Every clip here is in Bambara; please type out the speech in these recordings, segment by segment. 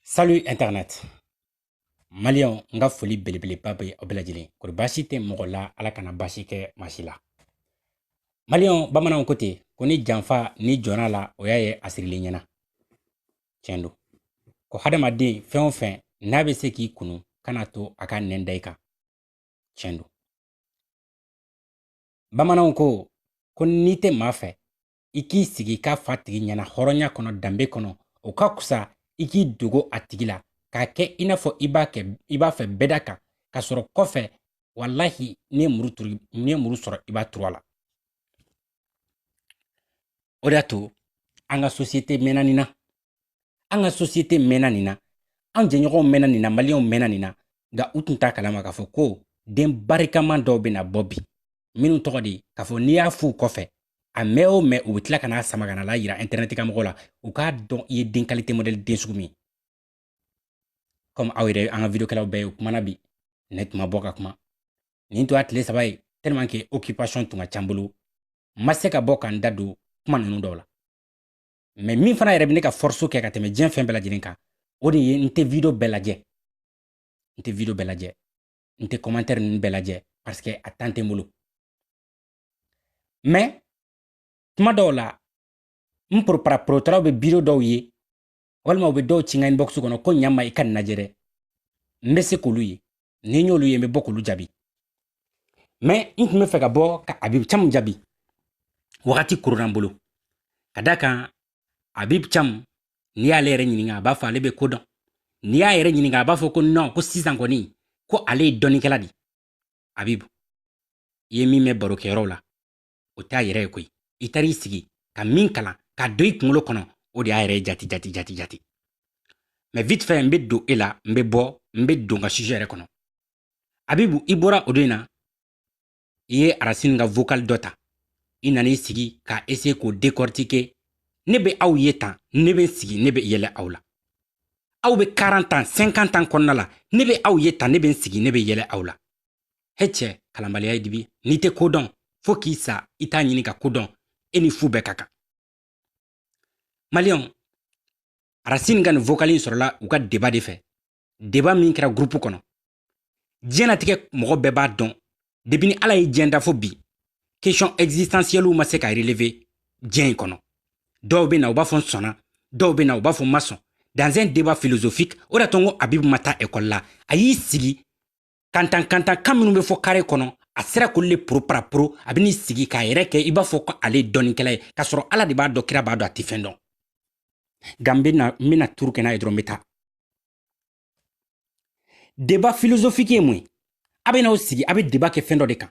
Salut Internet. Maliyɛnw, n ka foli belebeleba bɛ aw bɛɛ lajɛlen. Kori basi tɛ mɔgɔ la ala kana basi ke masila. Malion, bamana on kote, koni janfa ni jona la oya ye asiri le nyena. Chendo. Ko hadamaden fɛn o fɛn n'a bɛ se k'i kunu kana to a ka nɛn da i kan. Tiɲɛ don. Bamananw ko, ko n'i tɛ maa fɛ, i k'i sigi k'a f'a tigi ɲɛna hɔrɔnya kɔnɔ danbe kɔnɔ o ka kusa i k'i dogo a tigi la k'a kɛ i n'a fɔ i b'a fɛ bɛda kan ka sɔrɔ kɔfɛ walahi n'i ye muru sɔrɔ i b'a turu a la o de y'a to an ka sosiyete mɛnna nin na an ka sosiyete mɛnna nin na an jɛɲɔgɔnw mɛnna nin na maliyɛnw mɛnna nin na nka u tun t'a kalama k'a fɔ ko den barikaman dɔw bɛna bɔ bi minnu tɔgɔ de k'a fɔ n'i y'a f'u kɔfɛ a mɛn o mɛn u bɛ tila ka n'a sama ka na la yira intɛrɛnɛti kan mɔgɔw la u k'a dɔn i ye den kalite mɔdɛli den sugu min kɔmi aw yɛrɛ an ka vidiyokɛlaw bɛɛ ye u kumana bi ne tun ma bɔ ka kuma nin tun y'a tile saba ye tellement que occupation tun ka ca n bolo n ma se ka bɔ ka n da don kuma ninnu dɔw la mais min fana yɛrɛ bɛ ne ka force kɛ ka tɛmɛ diɲɛ fɛn bɛɛ lajɛlen kan o de ye n tɛ video bɛɛ lajɛ n tɛ video bɛɛ lajɛ n tɛ commentaire ninnu bɛɛ lajɛ parce que a temps tɛ n bolo mais tuma dɔw la n poropara porotaraw bɛ video dɔw ye walima u bɛ dɔw ci n ka inbox kɔnɔ ko ɲama i ka nin lajɛ dɛ n bɛ se k'olu ye ni n y'olu ye n bɛ bɔ k'olu jaabi mɛ n tun bɛ fɛ ka bɔ ka abibu camu jaabi wagati koronna n bolo ka da kan abibu camu n'i y'ale yɛrɛ ɲininka a b'a fɔ ale bɛ ko dɔn n'i y'a yɛrɛ ɲininka a b'a fɔ ko nɔn ko sisan kɔni ko ale ye dɔnnikɛla de abibu i ye min mɛn barokɛyɔrɔw la o t'a yɛrɛ ye koyi i taara i sigi ka min kalan ka don i kunkolo kɔnɔ o de y'a yɛrɛ jati jati jati jati mais vite fait n bɛ don e la n bɛ bɔ n bɛ don n ka sujet yɛrɛ kɔnɔ abibu i bɔra o don in na i ye arasini ka vocal dɔ ta i nana i sigi ka essayer k'o décortiquer ne bɛ aw ye tan ne bɛ n sigi ne bɛ yɛlɛ aw la aw bɛ 40 ans 50 ans kɔnɔna la ne bɛ aw ye tan ne bɛ n sigi ne bɛ yɛlɛ aw la he cɛ kalanbaliya ye dibi n'i tɛ ko dɔn fo k'i sa i t'a ɲini ka ko dɔn e ni fu bɛɛ ka kan maliyɛnw arasini ka nin vokali in sɔrɔla u ka deba de fɛ deba min kɛra gurupu kɔnɔ diɲɛnatigɛ mɔgɔ bɛɛ b'a dɔn depi ni ala ye diɲɛ da fo bi kesiyɔn ɛgzisitansiɛliw ma se ka releve diɲɛ in kɔnɔ dɔw bɛ na u b'a fɔ n sɔnna dɔw bɛ na u b'a fɔ n ma sɔn dans un débat philosophique o d'a to n ko abibu ma taa ekɔli la a y'i sigi kantan kantan kan minnu bɛ fɔ carré kɔnɔ a sera k'olu le poroparaporo a bɛn'i sigi k'a yɛrɛ kɛ i b'a fɔ ko ale ye dɔnnikɛla ye k'a sɔrɔ ala de b'a dɔn kira b'a dɔn a tɛ fɛn dɔn nka n bɛna n bɛna turu kɛ n'a ye dɔrɔn n bɛ taa débat philosophique ye mun ye a bɛn'aw sigi a bɛ débat kɛ fɛn dɔ de kan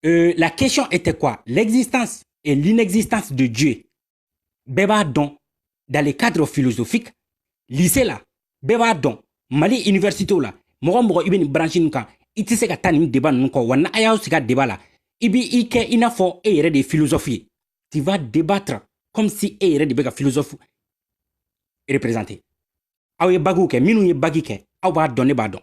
euh, la question était quoi l'existence et l'inexistence de dieu bɛɛ b'a dɔn dans le cadre philosophique lycée la bɛɛ b'a dɔn mali université la mɔgɔ o mɔgɔ i bɛ nin branche nin kan i tɛ se ka taa nin débat ninnu kɔ wa n'a y'aw sigi a débat la i b'i kɛ i n'a fɔ e yɛrɛ de ye philosophe ye tu vas débattre comme si e yɛrɛ de bɛ ka philosophe représenter aw ye bagiw kɛ minnu ye bagi kɛ aw b'a dɔn ne b'a dɔn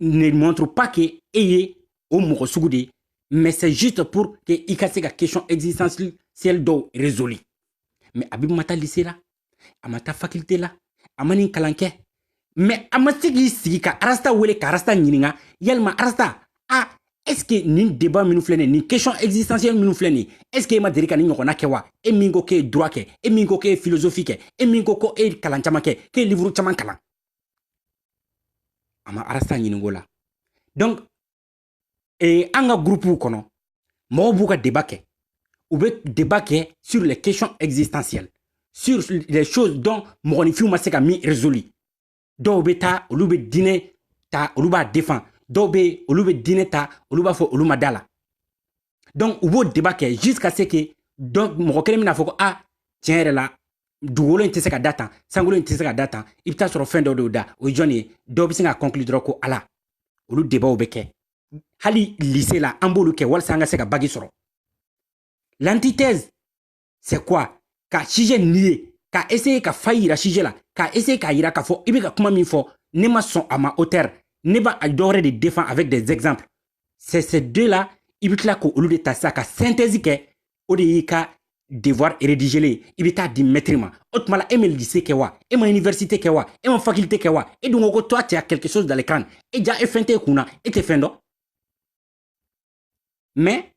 ne montre pas que e ye o mɔgɔ sugu de ye mais c'est juste pour que i ka se ka question existentielle dɔw résolu mais habib ma taa lycée la a ma taa faculté la a ma nin kalan kɛ mais a ma se k'i sigi ka arasta wele ka arasta ɲininka yalima arasta a est ce que nin débat minnu filɛ nin nin question existentielle minnu filɛ nin est ce que e ma deli ka nin ɲɔgɔnna kɛ wa e min ko k'e ye droit kɛ e min ko k'e ye philosophie kɛ e min ko k'e ye kalan caman kɛ k'e ye livre caman kalan a ma arasta ɲinink'o la donc eh, an ka gurupuw kɔnɔ mɔgɔw b'u ka débat kɛ u bɛ débat kɛ sur les questions existentielles sur les choses dont mɔgɔninfinw ma se ka min résolu dɔw bɛ taa olu bɛ diinɛ ta olu b'a défend dɔw bɛ yen olu bɛ diinɛ ta olu b'a fɔ olu ma d'a la donc u b'o débat kɛ jusqu'à ce que donc mɔgɔ kelen bɛna fɔ ko ah tiɲɛ yɛrɛ la dugukolo in tɛ se ka da tan sankolo in tɛ se ka da tan i bɛ taa sɔrɔ fɛn dɔ de y'o da o ye jɔn ye dɔw bɛ se ka conclure dɔrɔn ko ala olu débatw bɛ kɛ hali lycée la an b'olu kɛ walasa an ka se ka bagi sɔrɔ l'antithèse c'est quoi ka sujet nier ka essayer ka faille yira sujet la ka essayer k'a yira k'a fɔ i bɛ ka kuma min fɔ ne ma sɔn a ma auteur ne b'a dɔwɛrɛ de défend avec des exemples c'est ces deux là i bɛ tila k'olu de ta sisan ka synthèse kɛ o de y'i ka devoir rédigélen ye i bɛ t'a di maître ma o tuma la e ma lycée kɛ wa e ma université kɛ wa e ma faculté kɛ wa e dun ko ko toi tu as quelque chose dans le crâne e jaa e fɛn t'e kun na e tɛ fɛn dɔn mais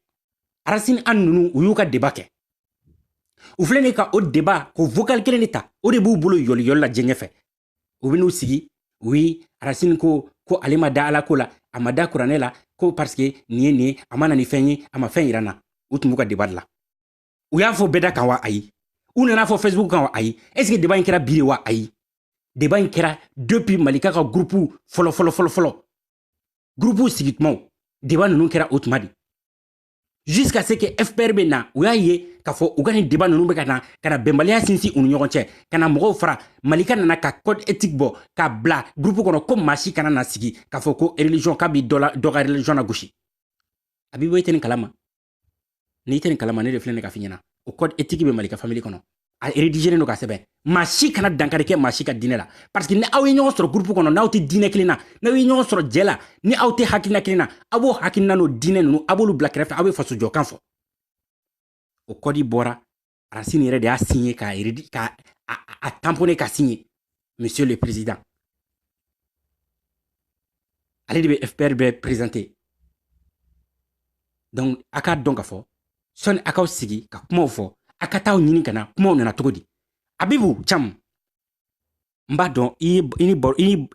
arasini an ninnu u y'u ka débat kɛ u filɛ nin ka o débat k'o vocal kelen de ta o de b'u bolo yɔliyɔli la diɲɛ fɛ u bɛ n'u sigi oui arasini ko ko ale ma da ala ko la a ma da kuranɛ la ko parce que nin ye nin ye a ma na ni fɛn ye a ma fɛn yira n na u tun b'u ka débat de la u y'a fɔ bɛɛ da kan wa ayi u nan'a fɔ facebook kan wa ayi est ce que débat in kɛra bi de wa ayi débat in kɛra depuis malika ka gurupu fɔlɔ fɔlɔ fɔlɔ fɔlɔ gurupuw sigi tumaw débat ninnu kɛra o tuma de jusqu'à ce que fpr bɛ na u y'a ye k'a fɔ u ka nin débat ninnu bɛ ka na ka na bɛnbaliya sinsin u ni ɲɔgɔn cɛ ka na mɔgɔw fara malika nana ka code éthique bɔ k'a bila gurupu kɔnɔ ko maa si kana na sigi k'a fɔ ko religion k'a bɛ dɔ ka religion nagosi a b'i bɔ i tɛ nin kalama n'i tɛ nin kalama ne de filɛ ne k'a f'i ɲɛna o code éthique bɛ malika famille kɔnɔ a rédigénen don k'a sɛbɛn maa si kana dankari kɛ maa si ka diinɛ la parce que ni aw ye ɲɔgɔn sɔrɔ groupe kɔnɔ n'aw tɛ diinɛ kelen na n'aw ye ɲɔgɔn sɔrɔ jɛ la ni aw tɛ hakilina kelen na aw b'o hakilina n'o diinɛ ninnu aw b'olu bila kɛrɛfɛ aw bɛ faso jɔkan fɔ o code bɔra arasini yɛrɛ de y'a signé k'a yɛrɛ k'a tamponné k'a signé monsieur le président ale de bɛ fpr bɛɛ présenter donc a k'a dɔn k'a fɔ sɔni a k'aw sigi ka kumaw fɔ a ka t'aw ɲini ka na kumaw nana cogo di abibu cam n b'a dɔn i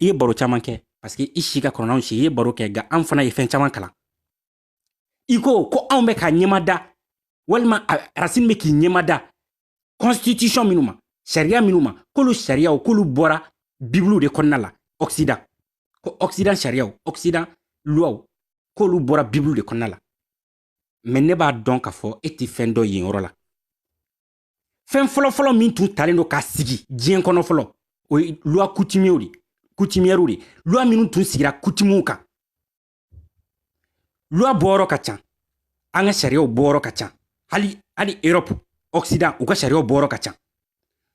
ye baro caman kɛ parce que i si ka kɔrɔ n'anw si i ye baro kɛ nka an fana ye fɛn caman kalan i ko ko anw bɛ k'an ɲɛmada walima arasini bɛ k'i ɲɛmada constitution minnu ma sariya minnu ma k'olu sariyaw k'olu bɔra bibiliw de kɔnɔna la occident ko occident sariyaw occident luwaw k'olu bɔra bibiliw de kɔnɔna la mais ne b'a dɔn k'a fɔ e tɛ fɛn dɔn yen yɔrɔ la fɛn fɔlɔfɔlɔ min tun talen don k'a sigi diɲɛ kɔnɔ fɔlɔ o ye luwa coutum coutumièrew de luwa minnu tun sigira coutumew kan luwa bɔyɔrɔ ka ca an ka sariyaw bɔyɔrɔ ka ca hali hali europe occident u ka sariyaw bɔyɔrɔ ka ca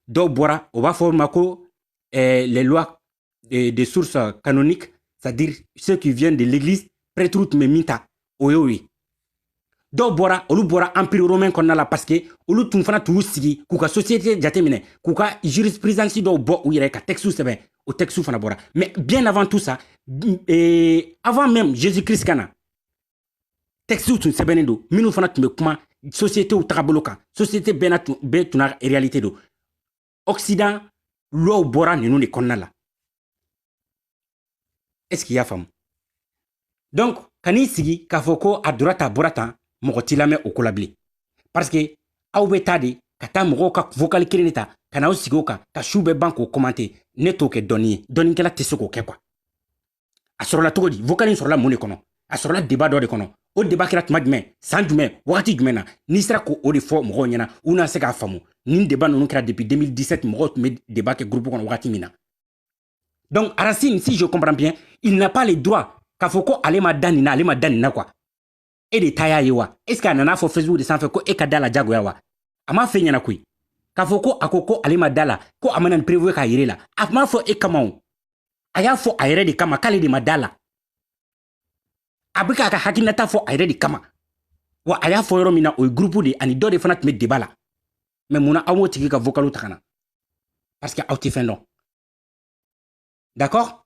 dɔw bɔra o b'a f'o ma ko eh, les lois de, de source canonique c'est-à-dire ceux qui viennent de l'église prêtres tun bɛ min ta o y'o ye dɔw bɔra olu bɔra empire romain kɔnɔna la parce que olu tun fana tun y'u sigi k'u ka société jateminɛ k'u ka jurisprudence dɔw bɔ u yɛrɛ ka textew sɛbɛn o textew fana bɔra mais bien avant tout ça euh, avant même jésus christ ka na textew tun sɛbɛnnen don minnu fana tun bɛ kuma sociétéw tagabolo kan société bɛɛ n'a tun bɛɛ tun n'a réalité don occident luwaw bɔra ninnu de kɔnɔna la est ce qu'i y'a faamu donc kan'i sigi k'a fɔ ko a dora ta bɔra tan mɔgɔ t'i lamɛn o ko la bilen parce que aw bɛ taa de ka taa mɔgɔw ka vocal kelen de ta ka n'aw sigi o kan ka su bɛɛ ban k'o commenter ne t'o kɛ dɔnni ye dɔnnikɛla tɛ se k'o kɛ quoi a sɔrɔla cogo di vocal in sɔrɔla mun de kɔnɔ a sɔrɔla débat dɔ de kɔnɔ o débat kɛra tuma jumɛn san jumɛn wagati jumɛn na n'i sera k'o de fɔ mɔgɔw ɲɛna u na se k'a faamu nin débat ninnu kɛra depuis 2017 mɔgɔw tun bɛ débat kɛ groupe kɔnɔ wagati min na donc arasini si je comprends bien il n'a pas le droit k'a fɔ ko ale ma da nin na ale ma da nin na quoi e de ta y'a ye wa est ce que a nana fɔ facebook de sanfɛ ko e ka da la jagoya wa a m'a f'e ɲɛna koyi k'a fɔ ko a ko ko ale ma da la ko a ma na ni preuve ye k'a yir'e la a m'a fɔ e kama o a y'a fɔ a yɛrɛ de kama k'ale de ma da la a bɛ k'a ka hakilinata fɔ a yɛrɛ de kama wa a y'a fɔ yɔrɔ min na o ye gurupu de ani dɔ de fana tun bɛ débat la mais mun na aw m'o tigi ka vokalu ta ka na parce que aw tɛ fɛn dɔn d'accord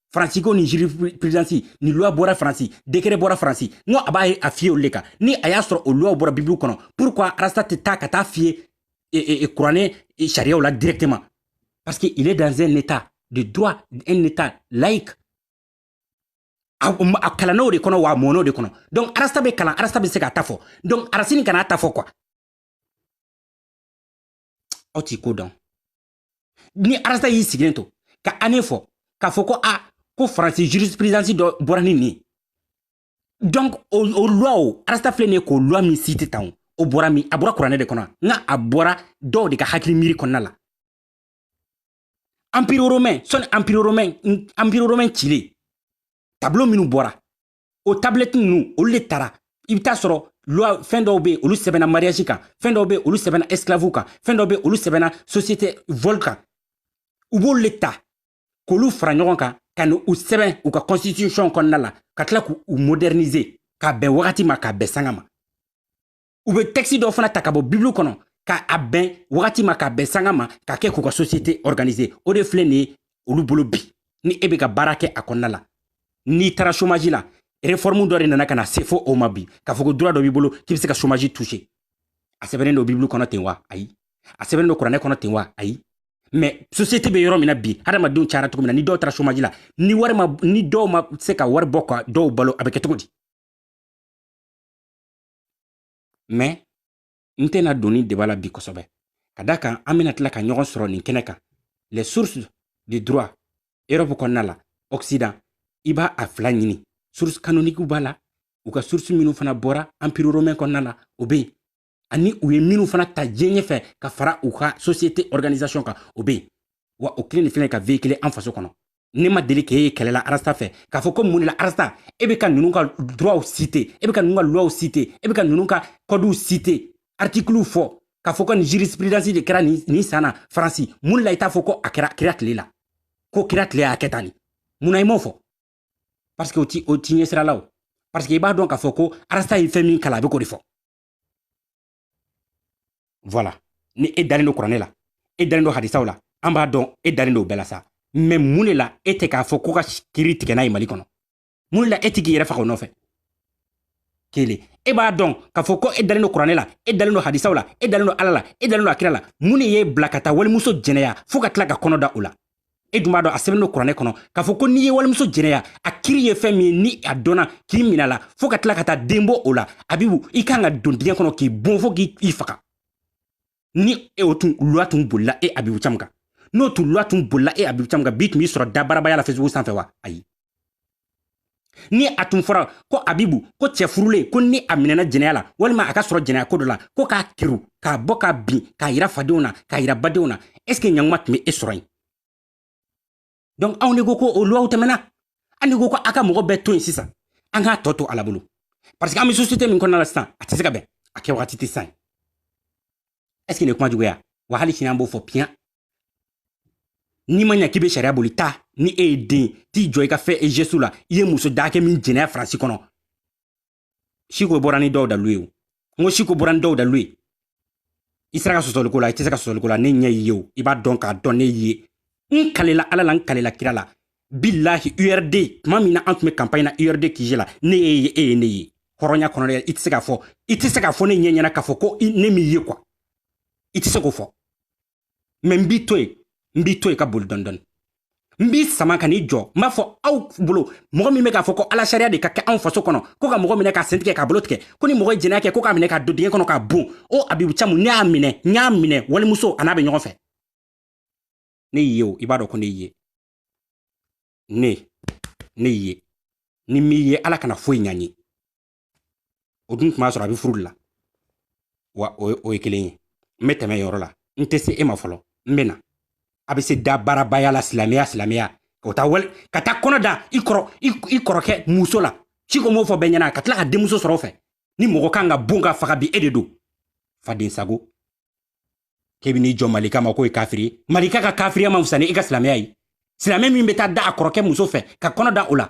faransi ko ni jurisprudence ni loi bɔra faransi décret bɔra faransi n ko a b'a ye a fier olu le kan ni a y'a sɔrɔ o loiw bɔra bibulu kɔnɔ pourquoi arasta tɛ taa ka taa fier e, e, e, kuranɛ sariyaw la directement parce que il est dans un état de droit un état laïque a kalann'o de kɔnɔ wa a mɔn'o de kɔnɔ donc arasta bɛ kalan arasta bɛ se k'a ta fɔ donc arasini kan'a ta fɔ quoi aw t'i ko dɔn ni arasta y'i sigilen to ka année fɔ k'a fɔ ko a ah, ko faransi jurisprudence dɔ bɔra ni nin donc o, o loi o arasta filɛ nin ye k'o loi min cité tan o bɔra min a bɔra kuranɛ de kɔnɔ nka a bɔra dɔw de ka hakili miiri kɔnɔna la empire romain sɔni empire romain empire romain cilen tableau minnu bɔra o tablɛti ninnu olu de tara i bɛ t'a sɔrɔ loi fɛn dɔw bɛ olu sɛbɛnna mariage kan fɛn dɔw bɛ olu sɛbɛnna esclavew kan fɛn dɔw bɛ olu sɛbɛnna société vol kan u b'olu de ta k'olu fara ɲɔgɔn kan ka n'u sɛbɛn u ka constitution kɔnɔna la ka tila k'u moderniser k'a bɛn wagati ma k'a bɛn sanga ma u bɛ texte dɔw fana ta ka bɔ bibulu kɔnɔ ka a bɛn wagati ma k'a bɛn sanga ma k'a kɛ k'u ka société organiser o de filɛ nin ye olu bolo bi ni e bɛ ka baara kɛ a kɔnɔna la n'i taara chômage la réforme dɔ de nana ka na se fo o ma bi k'a fɔ ko droit dɔ b'i bolo k'i bɛ se ka chômage toucher a sɛbɛnnen don bibulu kɔnɔ ten wa ayi a sɛbɛnnen don kuranɛ kɔnɔ ten wa ayi mais société bɛ yɔrɔ min na bi hadamadenw cayara cogo min na ni dɔw taara chômage la ni wari ma ni dɔw ma se ka wari bɔ ka dɔw balo a bɛ kɛ cogo di mais n tɛna don nin débat la bi kosɛbɛ ka da kan an bɛna tila ka ɲɔgɔn sɔrɔ nin kɛnɛ kan les sources de droit europe kɔnɔna la occident i b'a a fila ɲini source canonique b'a la u ka source minnu fana bɔra empire romain kɔnɔna la o bɛ yen ani u ye minnu fana ta diɲɛ ɲɛfɛ ka fara u ka société organisation kan o bɛ yen wa o kelen de filɛ ka véhiculer an faso kɔnɔ ne ma deli k'e ye kɛlɛ la arasta fɛ k'a fɔ ko mun de la arasta e bɛ ka ninnu ka droitw citer e bɛ ka ninnu ka loiw citer e bɛ ka ninnu ka codew citer articlew fɔ k'a fɔ ko nin jurisprudence de kɛra nin san na faransi mun de la i t'a fɔ ko a kɛra kira tile la ko kira tile y'a kɛ tan nin mun na i m'o fɔ parce que o t'i o t'i ɲɛsira la o parce que i b'a dɔn k'a fɔ ko arasta ye fɛn min kalan a bɛ k'o de fɔ voilà ni e dalen don kuranɛ la e dalen don hadisaw la an b'a dɔn e dalen don bɛɛ la sa mais mun de la e tɛ k'a fɔ ko ka kiri tigɛ n'a ye mali kɔnɔ mun de la e tɛ k'i yɛrɛ faga o nɔfɛ kelen e b'a dɔn k'a fɔ ko e dalen don kuranɛ la e dalen don hadisaw la e dalen don ala la e dalen don a kira la mun de y'e bila ka taa walimuso jɛnɛya fɔɔ ka tila ka kɔnɔ da o la e dun b'a dɔn a sɛbɛnnen don kuranɛ kɔnɔ k'a fɔ ko n'i ye walimuso jɛnɛya a kiri ye fɛn min ye ni a dɔnna k'i min'a la fɔɔ ka tila ka taa den bɔ o la abibu i kan ka don dingɛ kɔnɔ k'i bon fɔɔ k'i faga ni e o tun luwa tun bolila e abibu camu kan n'o tun luwa tun bolila e abibu camu kan bi tun b'i sɔrɔ dabaarabaya la facebook sanfɛ wa ayi ni a tun fɔra ko abibu ko cɛ furulen ko ni a minɛna jɛnɛya la walima a ka sɔrɔ jɛnɛya ko dɔ la ko k'a kiru k'a bɔ k'a bin k'a yira fadenw na k'a yira badenw na est ce que ɲanguma tun be e sɔrɔ yen donc anw de ko ko o luwaw tɛmɛna an de ko ko a ka mɔgɔ bɛɛ to yen sisan an k'a tɔ to ala bolo parce que an be société min kɔnɔna la sisan a tɛ se ka bɛn a kɛ wagati tɛ sisan est ce que nin ye kuma jugu ye wa hali sini an b'o fɔ piyan n'i ma ɲa k'i be sariya boli ta ni e ye den t'i jɔ i ka fɛ ejesu la i ye muso dakɛ min jɛnɛya faransi kɔnɔ siko bɔra ni dɔw dalu ye o n ko siko bɔra ni dɔw dalu ye i sera ka sɔsɔli k'o la i tɛ se ka sɔsɔli k'o la ne ɲɛ y'i ye o i b'a dɔn k'a dɔn ne y'i ye n kalela ala la n kalela kira la bilahi urd tuma min na an tun bɛ kanpaɲi na urd kije la ne ye ye e ye ne ye hɔrɔnya kɔnɔ dɛ i tɛ se k'a fɔ i tɛ se k'a fɔ ne ɲɛ ɲɛna k'a fɔ ko ne m'i ye quoi i tɛ se k'o fɔ mais n b'i to yen n b'i to yen ka boli dɔndɔni n b'i sama ka n'i jɔ n b'a fɔ aw bolo mɔgɔ min bɛ k'a fɔ ko ala sariya de ka kɛ anw faso kɔnɔ ko ka mɔgɔ minɛ k'a sen tigɛ k'a bolo tigɛ ko ni mɔgɔ ye jɛnɛya kɛ ko k'a minɛ k'a don dingɛ kɔnɔ k'a bon o abibu camu ne y'a minɛ n y'a minɛ walimuso a n'a bɛ ɲɔgɔn fɛ ne y'i ye o i b'a dɔn ko ne y'i ye ne ne y'i ye ni n m'i ye ala kana foyi ɲa n ye o dun tun b'a sɔrɔ a bɛ furu de la wa o ye kelen ye n bɛ tɛmɛ yɔrɔ la n tɛ se e ma fɔlɔ n bɛ na a bɛ se dabaarabaya la silamɛya silamɛya ka taa wali ka taa kɔnɔ da i kɔrɔ i kɔrɔkɛ muso la siko m'o fɔ bɛɛ ɲɛna ka tila ka denmuso sɔrɔ o fɛ ni mɔgɔ kan ka bon ka faga bi e de don fadensago k'e bɛ n'i jɔ malika ma k'o ye kafiri ye malika ka kafiriya man fisa ni e ka silamɛya ye silamɛ min bɛ taa da a kɔrɔkɛ muso fɛ ka kɔnɔ da o la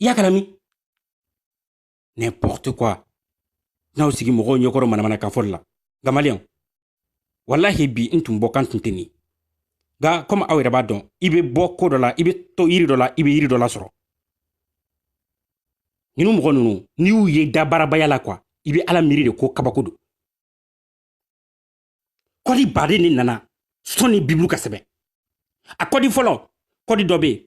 i y'a kalamɛn n'importe quoi n'aw sigi mɔgɔw ɲɛkɔrɔ manamana kan fɔli la nka maliyɛnw walahi bi n tun bɔ kan tun tɛ nin nka komi aw yɛrɛ b'a dɔn i bɛ bɔ ko dɔ la i bɛ to yiri dɔ la i bɛ yiri dɔ lasɔrɔ ninnu mɔgɔ ninnu n'i y'u ye dabaarabaya la quoi i bɛ ala miiri de ko kabako don kɔdi baden de nana sɔni bibulu ka sɛbɛn a kɔdi fɔlɔ kɔdi dɔ bɛ yen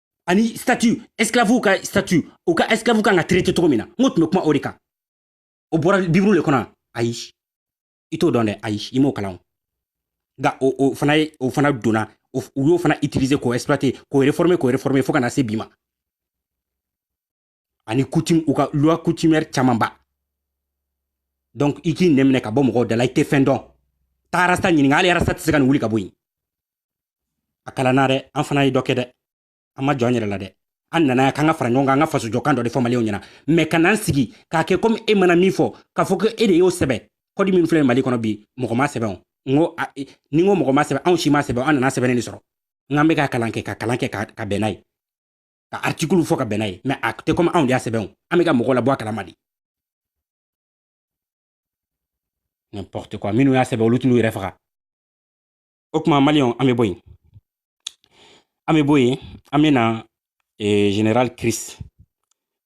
ani statut esclave ka statut u ka esclave ka kan ka traité cogo min na n ko tun bɛ kuma o de kan o bɔra bibulu le kɔnɔ ayi i t'o dɔn dɛ ayi i m'o kalan nka o o fana ye o fana donna u y'o fana utiliser k'o exploiter k'o réformer k'o réformer fo ka na se bi ma ani coutume u ka loi coutumière camanba donc i k'i nɛn minɛ ka bɔ mɔgɔw de la i tɛ fɛn dɔn taa rasta ɲininka hali rasta tɛ se ka nin wuli ka bɔ yen a kalanna dɛ an fana ye dɔ kɛ dɛ an ma jɔn an yɛrɛ la dɛ an nana yan k'an ka fara ɲɔgɔn kan an ka fasojɔkan dɔ de fɔ maliyɛnw ɲɛna mɛ ka n'an sigi k'a kɛ komi e mana min fɔ k'a fɔ ko e de y'o sɛbɛn kɔdi min filɛ mali kɔnɔ bi mɔgɔ m'a sɛbɛn o n ko e, ni n ko mɔgɔ m'a sɛbɛn anw si m'a sɛbɛn an nan'a sɛbɛnnen de sɔrɔ n k'an bɛ ka kalan kɛ ka kalan kɛ ka bɛn n'a ye ka artikulu fɔ ka bɛn n'a ye mɛ a tɛ kɔmi anw de y'a sɛbɛn an bɛ ka mɔgɔw labɔ a kalama de n'importe quoi minnu y'a sɛbɛn olu tɛn'u yɛrɛ faga o tuma maliyɛnw an bɛ bɔ yen an bɛ bɔ yen an bɛ na eh, general chris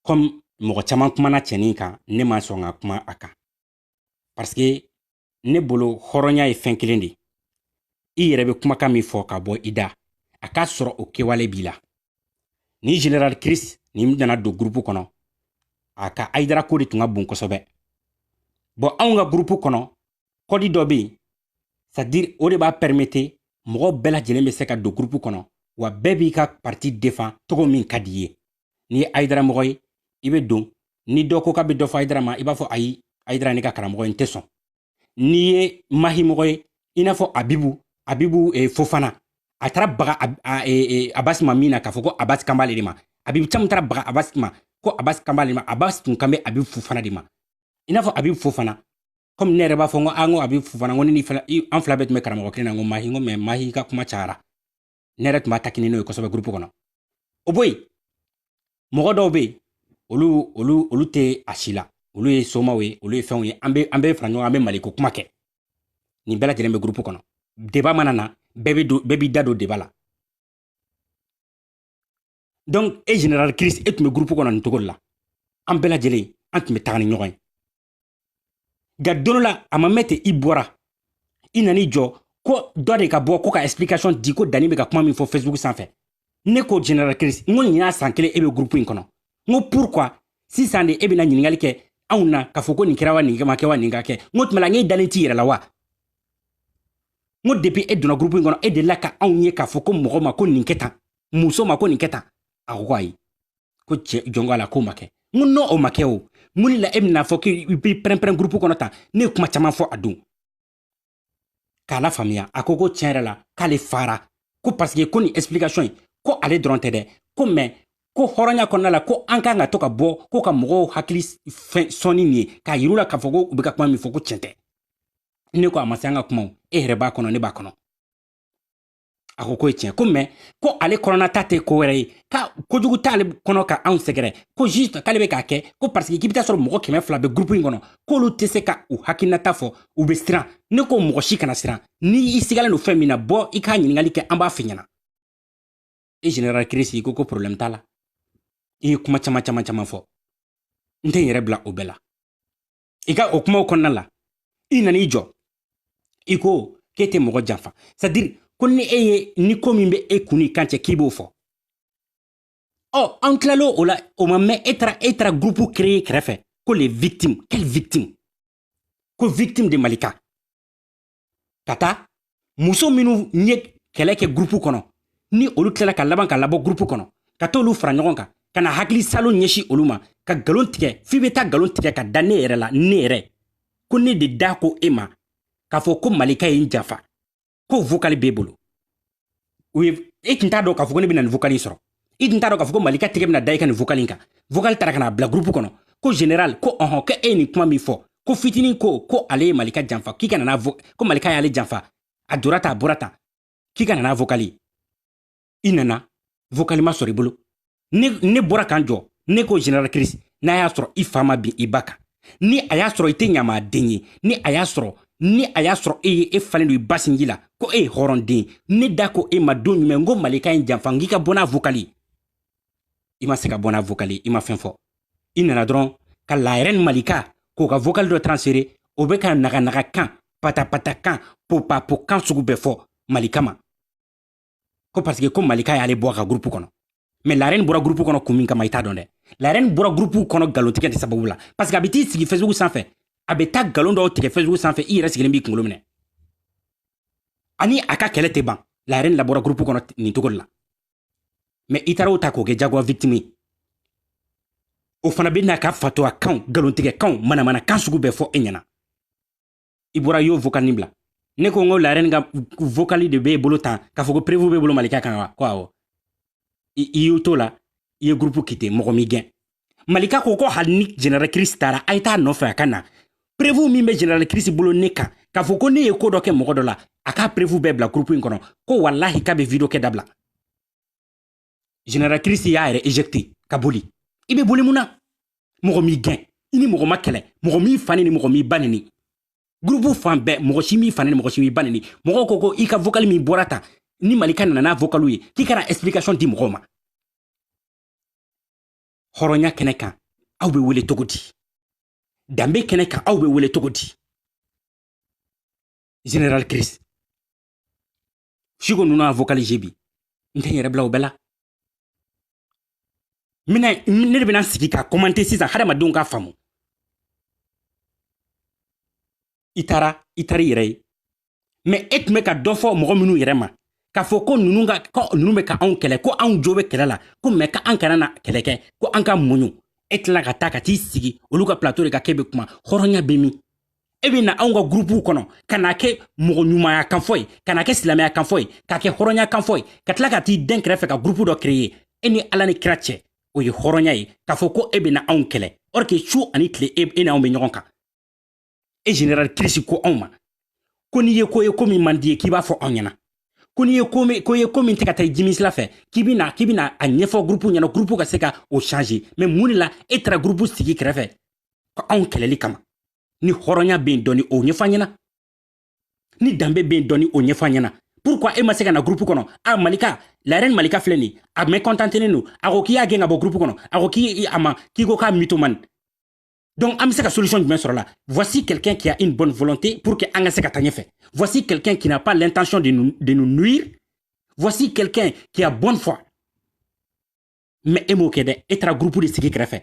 comme mɔgɔ caman kumana cɛnin kan ne ma sɔn ka kuma a kan parce que ne bolo hɔrɔnya ye fɛn kelen de ye i yɛrɛ bɛ kumakan min fɔ ka bɔ i da a k'a sɔrɔ o kɛwale b'i la ni general chris nin nana don gurupu kɔnɔ a ka ayidara ko de tun ka bon kosɛbɛ bɔn anw ka gurupu kɔnɔ kɔdi dɔ bɛ yen c'est-à-dire o de b'a pɛrimete mɔgɔ bɛɛ lajɛlen bɛ se ka don gurupu kɔnɔ wa bɛɛ b'i ka parti defan cogo min ka di i ye n'i ye ayidara mɔgɔ ye i bɛ don ni dɔ ko k'a bɛ dɔ fɔ ayidara ma i b'a fɔ ayi ayidara ne ka karamɔgɔ ye n tɛ sɔn n'i ye mahi mɔgɔ ye i n'a fɔ abibu abibu eh, fofana a taara baga e, e, abasi ma mun na k'a fɔ ko abasi kan b'ale de ma abibu camu taara baga abasi ma ko abasi kan b'ale ma abasi tun kan bɛ abibu fofana de ma i n'a fɔ abibu fofana komi ne yɛrɛ b'a fɔ n ko an ko abibu fofana n ko ne ni an fila bɛɛ tun bɛ karamɔgɔ kelen na n ko mahi n ko mɛ mahi ka kuma cayara ne yɛrɛ tun b'a taquiner n'o ye kosɛbɛ gurupu kɔnɔ o bɔ yen mɔgɔ dɔw bɛ yen olu olu olu tɛ a si la olu ye somaw ye olu ye fɛnw ye an bɛ an bɛ fara ɲɔgɔn an bɛ maliko kuma kɛ nin bɛɛ lajɛlen bɛ gurupu kɔnɔ deba mana na bɛɛ bɛ don bɛɛ b'i da don deba la donc e general chris e tun bɛ gurupu kɔnɔ nin cogo de la an bɛɛ lajɛlen an tun bɛ taga ni ɲɔgɔn ye nka don dɔ la a ma mɛn ten i bɔra i nan'i jɔ ko dɔ de ka bɔ ko ka explication di ko dani bɛ ka kuma min fɔ facebook sanfɛ ne ko general chris n ko nin y'a san kelen e bɛ groupe in kɔnɔ n ko pourquoi sisan de e bɛna ɲininkali kɛ anw na k'a fɔ ko nin kɛra wa nin ma kɛ wa nin ka kɛ n k'o tuma la n k'e dalen t'i yɛrɛ la wa n ko depuis e donna groupe in kɔnɔ e delila ka anw ye k'a fɔ ko mɔgɔ ma ko nin kɛ tan muso ma ko nin kɛ tan a ko ko ayi ko cɛ jɔnko a la k'o ma kɛ n ko n'o ma kɛ o mun de la e bɛna fɔ k'i bɛ pɛrɛnpɛrɛn gurupu kɔnɔ tan ne ye kuma caman fɔ a don k'a lafaamuya a ko ko tiɲɛ yɛrɛ la k'ale fara ko parce que ko nin explication ye ko ale dɔrɔn tɛ dɛ ko mais ko hɔrɔnya kɔnɔna la ko an kan ka to ka bɔ ko ka mɔgɔw hakili fɛn sɔnni nin ye k'a yir'u la k'a fɔ ko u bɛ ka kuma min fɔ ko tiɲɛ tɛ ne ko a ma se an ka kumaw e yɛrɛ b'a kɔnɔ ne b'a kɔnɔ a ko k'o ye tiɲɛ ko mais ko ale kɔnɔna ta tɛ ko wɛrɛ ye ka kojugu t'ale kɔnɔ ka anw sɛgɛrɛ ko juste k'ale bɛ k'a kɛ ko parce que k'i bɛ taa sɔrɔ mɔgɔ kɛmɛ fila bɛ gurupu in kɔnɔ k'olu tɛ se ka u hakilinata fɔ u bɛ siran ne ko mɔgɔ si kana siran ni i sigalen don fɛn min na bɔ i k'a ɲininkali kɛ an b'a f'i ɲɛna e général chris ko ko problème t'a la i ye kuma caman caman caman fɔ n tɛ n yɛrɛ bila o bɛɛ la i ka o kumaw kɔnɔna la i nana i jɔ i ko k'e tɛ mɔgɔ janfa c'est-à-dire ko ni e ye ni ko min bɛ e kun ni kan cɛ k'i b'o fɔ ɔ an tilala o la o ma mɛn e taara e taara gurupu créer kɛrɛfɛ ko les victimes quelles victimes ko victimes de malika ka taa muso minnu ye kɛlɛ kɛ gurupu kɔnɔ ni olu tilala ka laban ka labɔ gurupu kɔnɔ ka t'olu fara ɲɔgɔn kan ka na hakili salo ɲɛsin olu ma ka galon tigɛ f'i bɛ taa galon tigɛ ka da ne yɛrɛ la ne yɛrɛ ko ne de da ko e ma k'a fɔ ko malika ye n janfa ko vokali b'e bolo u ye e tun t'a dɔn k'a fɔ ko ne bɛna nin vocal in sɔrɔ i tun t'a dɔn k'a fɔ ko malika tɛgɛ bɛna da i ka nin vocal in kan vocal tara ka n'a bila groupe kɔnɔ ko général ko ɔhɔn ko e ye nin kuma min fɔ ko fitinin ko ko ale ye malika janfa k'i ka na n'a ko malika y'ale janfa a dora tan a bɔra tan k'i ka na n'a vocal ye i nana vocal ma sɔrɔ i bolo ne ne bɔra ka n jɔ ne ko général chris n'a y'a sɔrɔ i fa ma bin i ba kan ni a y'a sɔrɔ i tɛ ɲamaden ye ni a y'a sɔrɔ ni a y'a sɔrɔ e ye e falen don i ba sinji la ko e ye hɔrɔnden ne da ko e ma don jumɛn ko malika ye n janfa n k'i ka bɔ n'a vokali i ma se ka bɔ n'a vokali i ma fɛn fɔ i nana dɔrɔn ka la reine malika k'o ka vokali dɔ transférer o bɛ ka naganaga kan patapata kan popapo kan sugu bɛɛ fɔ malika ma ko parce que ko malika y'ale bɔ a ka gurupu kɔnɔ mais la reine bɔra gurupu kɔnɔ kun min kama i t'a dɔn dɛ la reine bɔra gurupu kɔnɔ galontigɛ de sababu la parce que a bɛ t'i sigi facebook sanfɛ a bɛ taa galon dɔw tigɛ facebook sanfɛ i yɛrɛ sigilen b'i kunkolo minɛ ani a ka kɛlɛ tɛ ban la reine labɔra gurupu kɔnɔ nin cogo de la mais i taara o ta k'o kɛ jagoya victime ye o fana bɛ n'a ka fatɔya kanw galontigɛ kanw manamana kan sugu bɛɛ fɔ e ɲɛna i bɔra y'o vokali nin bila ne ko n ko la reine ka vokali de b'e bolo tan k'a fɔ ko preuve b'e bolo malika kan wa ko awɔ i y'o to la i ye gurupu quitter mɔgɔ m'i gɛn malika ko ko hali ni général chris taara a ye t'a nɔfɛ a ka na preuve min bɛ général chris bolo ne kan k'a fɔ ko ne ye ko dɔ kɛ mɔgɔ dɔ la a k'a preuve bɛɛ bila gurupu in kɔnɔ ko walahi k'a bɛ vidéo kɛ dabila general kirisi y'a yɛrɛ ejecte ka boli i be boli mun na mɔgɔ m'i gɛn i ni mɔgɔ ma kɛlɛ mɔgɔ m'i fa nini mɔgɔ m'i ba nini gurupu fan bɛɛ mɔgɔ si m'i fa nini mɔgɔ si m'i ba nini mɔgɔw ko ko i ka vokali min bɔra tan ni malika nana n'a vokali ye k'i kana explication di mɔgɔw ma hɔrɔnya kɛnɛ kan aw be wele cogo di danbe kɛnɛ kan aw be wele cogo di general chris siko ninnu y'a vocalise bi n tɛ n yɛrɛ bila o bɛɛ la mina ne de bɛna sigi ka kɔmante sisan hadamadenw k'a faamu i taara i taara i yɛrɛ ye mɛ e tun bɛ ka dɔ fɔ mɔgɔ minnu yɛrɛ ma k'a fɔ ko ninnu ka ko ninnu bɛ ka anw kɛlɛ ko anw jo bɛ kɛlɛ la ko mɛ ka an kana na kɛlɛ kɛ ko an ka muɲu e tila ka taa ka t'i sigi olu ka plateau de kan k'e bɛ kuma hɔrɔnya bɛ min e bɛ na anw ka gurupuw kɔnɔ ka na kɛ mɔgɔ ɲumanya kanfɔ ye ka na kɛ silamɛya kanfɔ ye ka kɛ hɔrɔnya kanfɔ ye ka tila ka t'i dɛn kɛrɛfɛ ka gurupu dɔ kereye e ni ala ni kira cɛ o ye hɔrɔnya ye k'a fɔ ko e bɛ na anw kɛlɛ or que su ani tile e, e ni anw bɛ ɲɔgɔn kan e general kirisi ko anw ma ko n'i ye ko ye ko min man d'i ye k'i b'a fɔ anw ɲɛna ko n'i ye ko min ko ye ko min tɛ ka taa jimi sira fɛ k'i bɛ na k'i bɛ na a ɲɛfɔ gurupu ɲɛna gurupu ka se ka o changer mais mun de la e taara gurupu sigi kɛrɛfɛ ka anw kɛlɛli kama ni hɔrɔnya bɛ yen dɔɔni o ɲɛfɔ an ɲɛna ni danbe bɛ yen dɔɔni o ɲɛfɔ an ɲɛna pourquoi e ma se ka na groupe kɔnɔ a malika la reine malika filɛ nin a mécontentenen don a ko k'i y'a gɛn ka bɔ groupe kɔnɔ a ko k'i a ma k'i ko k'a mythomane donc an bɛ se ka solution jumɛn sɔrɔ la voici quelqu'un qui a une bonne volonté pour que an ka se ka taa ɲɛfɛ voici quelqu'un qui n'a pas l'intention de nous, de nous nuire voici quelqu'un qui a bonne foi mɛ e m'o kɛ dɛ e taara gurupu de sigi kɛrɛfɛ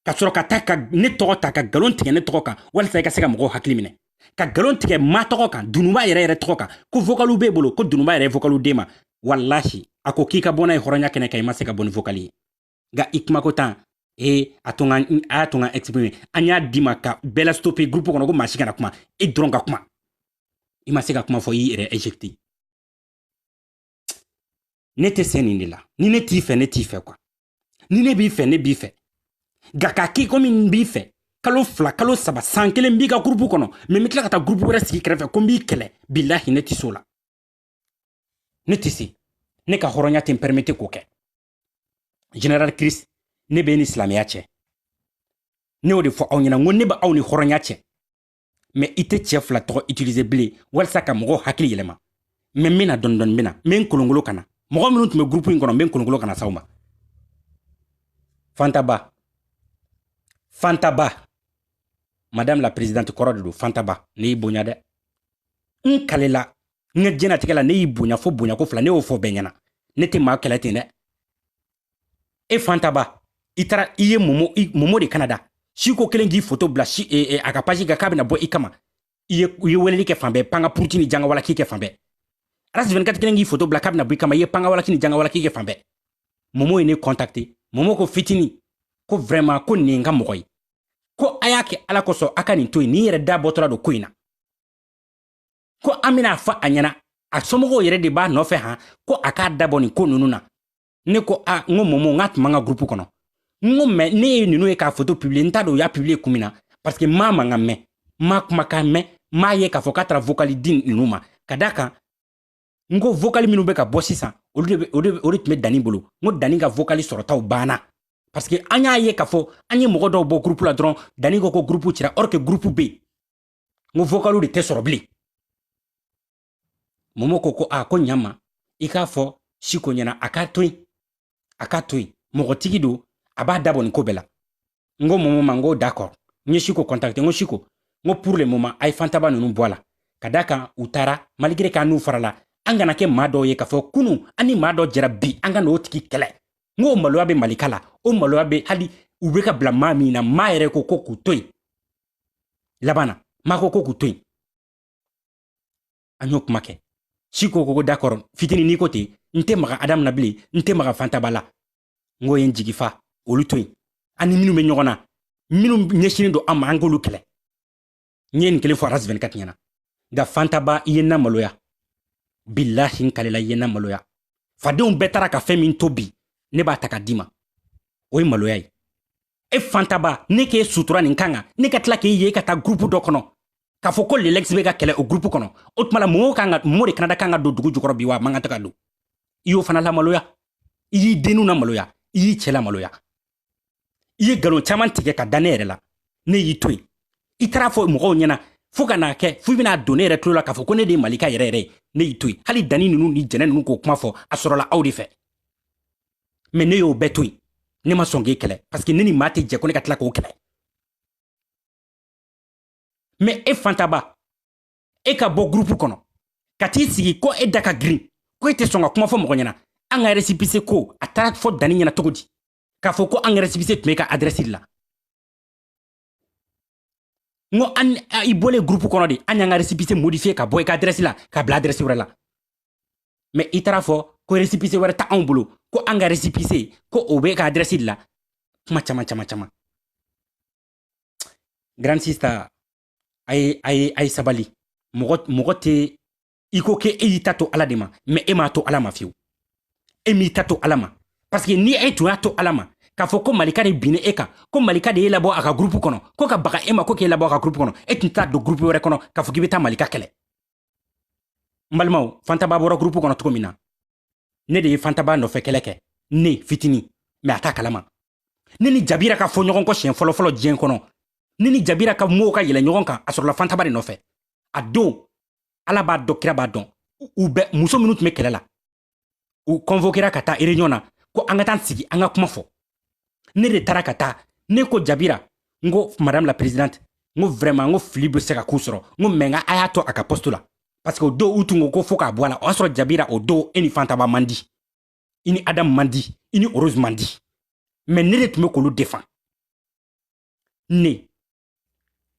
ka sɔrɔ ka taa ka ne tɔgɔ ta ka galon tigɛ ne tɔgɔ kan walisa i ka se ka mɔgɔw hakili minɛ ka galon tigɛ ma tɔgɔ kan dunuba yɛrɛ yɛrɛ tɔgɔ kan ko vokaliw b'e bolo ko dunuba yɛrɛ ye vokaliw d'e ma walahi a ko k'i ka bɔ n'a ye hɔrɔnya kɛnɛ kan i ma se ka bɔ ni vokali ye nka i kumako tan ee a to a y'a to n ka exprime an y'a d'i ma ka bɛɛ la stope groupe kɔnɔ ko maa si kana kuma e dɔrɔn ka kuma i ma se ka kuma fɔ i yɛrɛ ejecte ne tɛ se nin de la ni ne t'i fɛ ne t'i fɛ quoi ni ne b'i fɛ ne b'i fɛ nka k'a k'i komi n b'i fɛ kalo fila kalo saba san kelen n b'i ka gurupu kɔnɔ mɛ n bɛ tila ka taa gurupu wɛrɛ sigi kɛrɛfɛ ko n b'i kɛlɛ bilahi ne tɛ se o la ne tɛ se ne ka hɔrɔnya tɛ n pɛrimete k'o kɛ general chris ne b'e ni silamɛya cɛ ne y'o de fɔ aw ɲɛna n ko ne bɛ aw ni hɔrɔnya cɛ mɛ i tɛ cɛ fila tɔgɔ itilize bilen walisa ka mɔgɔw hakili yɛlɛma mɛ n bena dɔɔnidɔɔni bena n be n kolonkolon ka na mɔgɔ minw tun be gurupu in kɔnɔ n be n kolonkolon ka na s'aw ma fantaba fantaba madame la présidente kɔrɔ de don fantaba ne y'i bonya dɛ n kalela n ka diɲɛnatigɛ la ne y'i bonya fo bonyako fila ne y'o fɔ bɛɛ ɲɛna ne tɛ maa kɛlɛ ten dɛ e fantaba i taara i ye momo i momo de kanada siko kɛlen k'i foto bila si e, e, a ka paji kan k'a bɛna bɔ i kama i ye i ye weleli kɛ fan bɛɛ panga puruti ni jangawalaki kɛ fan bɛɛ arasi 24 kɛlen k'i foto bila k'a bɛna bɔ i kama i ye pangawalaki ni jangawalaki kɛ fan bɛɛ momo ye ne kɔntakte momo ko fitini ko vraiment ko nin ye n ka mɔgɔ ye ko a y'a kɛ ala kosɔn a ka nin to yen nin yɛrɛ da bɔtɔla don ko in na ko an bɛn'a fɔ a ɲɛna a somɔgɔw yɛrɛ de b'a nɔfɛ han ko a k'a dabɔ nin ko ninnu na ne ko a n ko momo n k'a tun b'an ka gurupu kɔnɔ n ko mɛ ne ye ninnu ye k'a foto publiye n t'a dɔn u y'a publiye kun min na parce que maa m'a kan mɛn m'a kumakan mɛn m'a ye k'a fɔ k'a taara vokali di ninnu ma ka d'a kan n ko vokali minnu bɛ ka bɔ sisan olu de o de o de tun bɛ dani bolo n ko dani ka vokali sɔrɔtaw banna parce que an y'a ye k'a fɔ an ye mɔgɔ dɔw bɔ gurupu la dɔrɔn dani ko ko gurupu cira or que gurupu bɛ yen n ko vokaliw de tɛ sɔrɔ bilen momo ko ko a ko ɲama i k'a fɔ siko ɲɛna a k'a to yen a k'a to yen mɔgɔtigi don a b'a dabɔ nin ko bɛɛ la n ko momo ma n ko d'accord n ye siko contacte n ko siko n ko pour le moment a ye fantaba ninnu bɔ a la ka d'a kan u taara malgré k'an n'u farala an kana kɛ maa dɔw ye k'a fɔ kunu an ni maa dɔ jɛra bi an ka n'o tigi kɛlɛ n ko o maloya bɛ malika la o maloya bɛ hali u bɛ ka bila maa min na maa yɛrɛ ko ko k'u to yen laban na maa ko ko k'u to yen an y'o kuma kɛ siko ko d'accord fitini n'i ko ten n tɛ maga adamu na bilen n tɛ maga fantaba la n k'i ye n jigi fa olu to yen an ni minnu bɛ ɲɔgɔn na minnu ɲɛsinen don an ma an k'olu kɛlɛ n ye nin kelen fɔ aras 24 ɲɛna nka fantaba i ye n namaloya bilahi n kalela i ye n namaloya fadenw bɛɛ taara ka fɛn min to bi ne b'a ta ka d'i ma o ye maloya ye e fantaba ne k'e sutura nin kan kan ne ka tila k'e ye ka taa gurupu dɔ kɔnɔ k'a fɔ ko lelex bɛ ka kɛlɛ o gurupu kɔnɔ o tuma la momo kan ka momo de kanada kan ka don dugu jukɔrɔ bi wa a man kan tɛ ka don i y'o fana lamaloya i y'i denninw namaloya i y'i cɛ lamaloya i ye nkalon caman tigɛ k'a da ne yɛrɛ la ne y'i to yen i taara a fɔ mɔgɔw ɲɛna fo ka n'a kɛ fo i bɛna don ne yɛrɛ tulo la k'a fɔ ko ne de ye malika yɛrɛ yɛrɛ ye ne y'i to yen hali dani ninnu ni jɛnɛ ninnu k'o kuma fɔ a sɔrɔla aw de fɛ mɛ ne y'o bɛɛ to yen ne ma sɔn k'e kɛlɛ parce que ne ni maa tɛ jɛ ko ne ka tila k'o kɛlɛ mɛ e fantaba e ka bɔ gurupu kɔnɔ ka t'i sigi ko e da ka girin ko e tɛ sɔn ka kuma fɔ mɔgɔ ɲɛna an ka resipise ko a taara fɔ dani ɲɛna cogo di k'a fɔ ko an ka resipise tun b'e ka adrɛsi de la n ko an i bɔlen gurupu kɔnɔ de an y'an ka resipise modifiye ka bɔ i ka adrɛsi la ka bila adrɛsi wɛrɛ la mɛ i taara fɔ ko resipise wɛrɛ t'anw bolo ko an ka resipise ko o b'e ka adrɛsi de la kuma caman caman caman grand sista a ye a ye a ye sabali mɔgɔ mɔgɔ tɛ i ko k'e y'i ta to ala de ma mɛ e m'a to ala ma fiyewu e m'i ta to ala ma parseke ni e tun y'a to ala ma k'a fɔ ko malika de binna e kan ko malika de y'e labɔ a ka gurupu kɔnɔ ko ka baga e ma ko k'e labɔ a ka gurupu kɔnɔ e tun t'a don gurupu wɛrɛ kɔnɔ k'a fɔ k'i be taa malika kɛlɛ n balimaw fantaba bɔra gurupu kɔnɔ cogo min na ne de ye fantaba nɔfɛ kɛlɛ kɛ ne fitini mɛ a t'a kalama ne ni jabira ka fɔ ɲɔgɔn kɔ siɲɛ fɔlɔfɔlɔ diɲɛ kɔnɔ ne ni jabira ka mow ka yɛlɛ ɲɔgɔn kan a sɔrɔla fantaba de nɔfɛ a don ala b'a dɔn kira b'a dɔn u bɛɛ muso minnu tun bɛ kɛlɛ la u kɔnvokera ka taa réunion na ko an ka taa sigi an ka kuma fɔ ne de taara ka taa ne ko jabira n ko madame la présidente n ko vraiment n ko fili bɛ se ka k'u sɔrɔ n ko mɛ nka a y'a to a ka poste la parce que o don u tun ko ko fo k'a bɔ a la o y'a sɔrɔ jabira o don e ni fantaba man di i ni adamu man di i ni rose man di mɛ ne de tun bɛ k'olu defan ne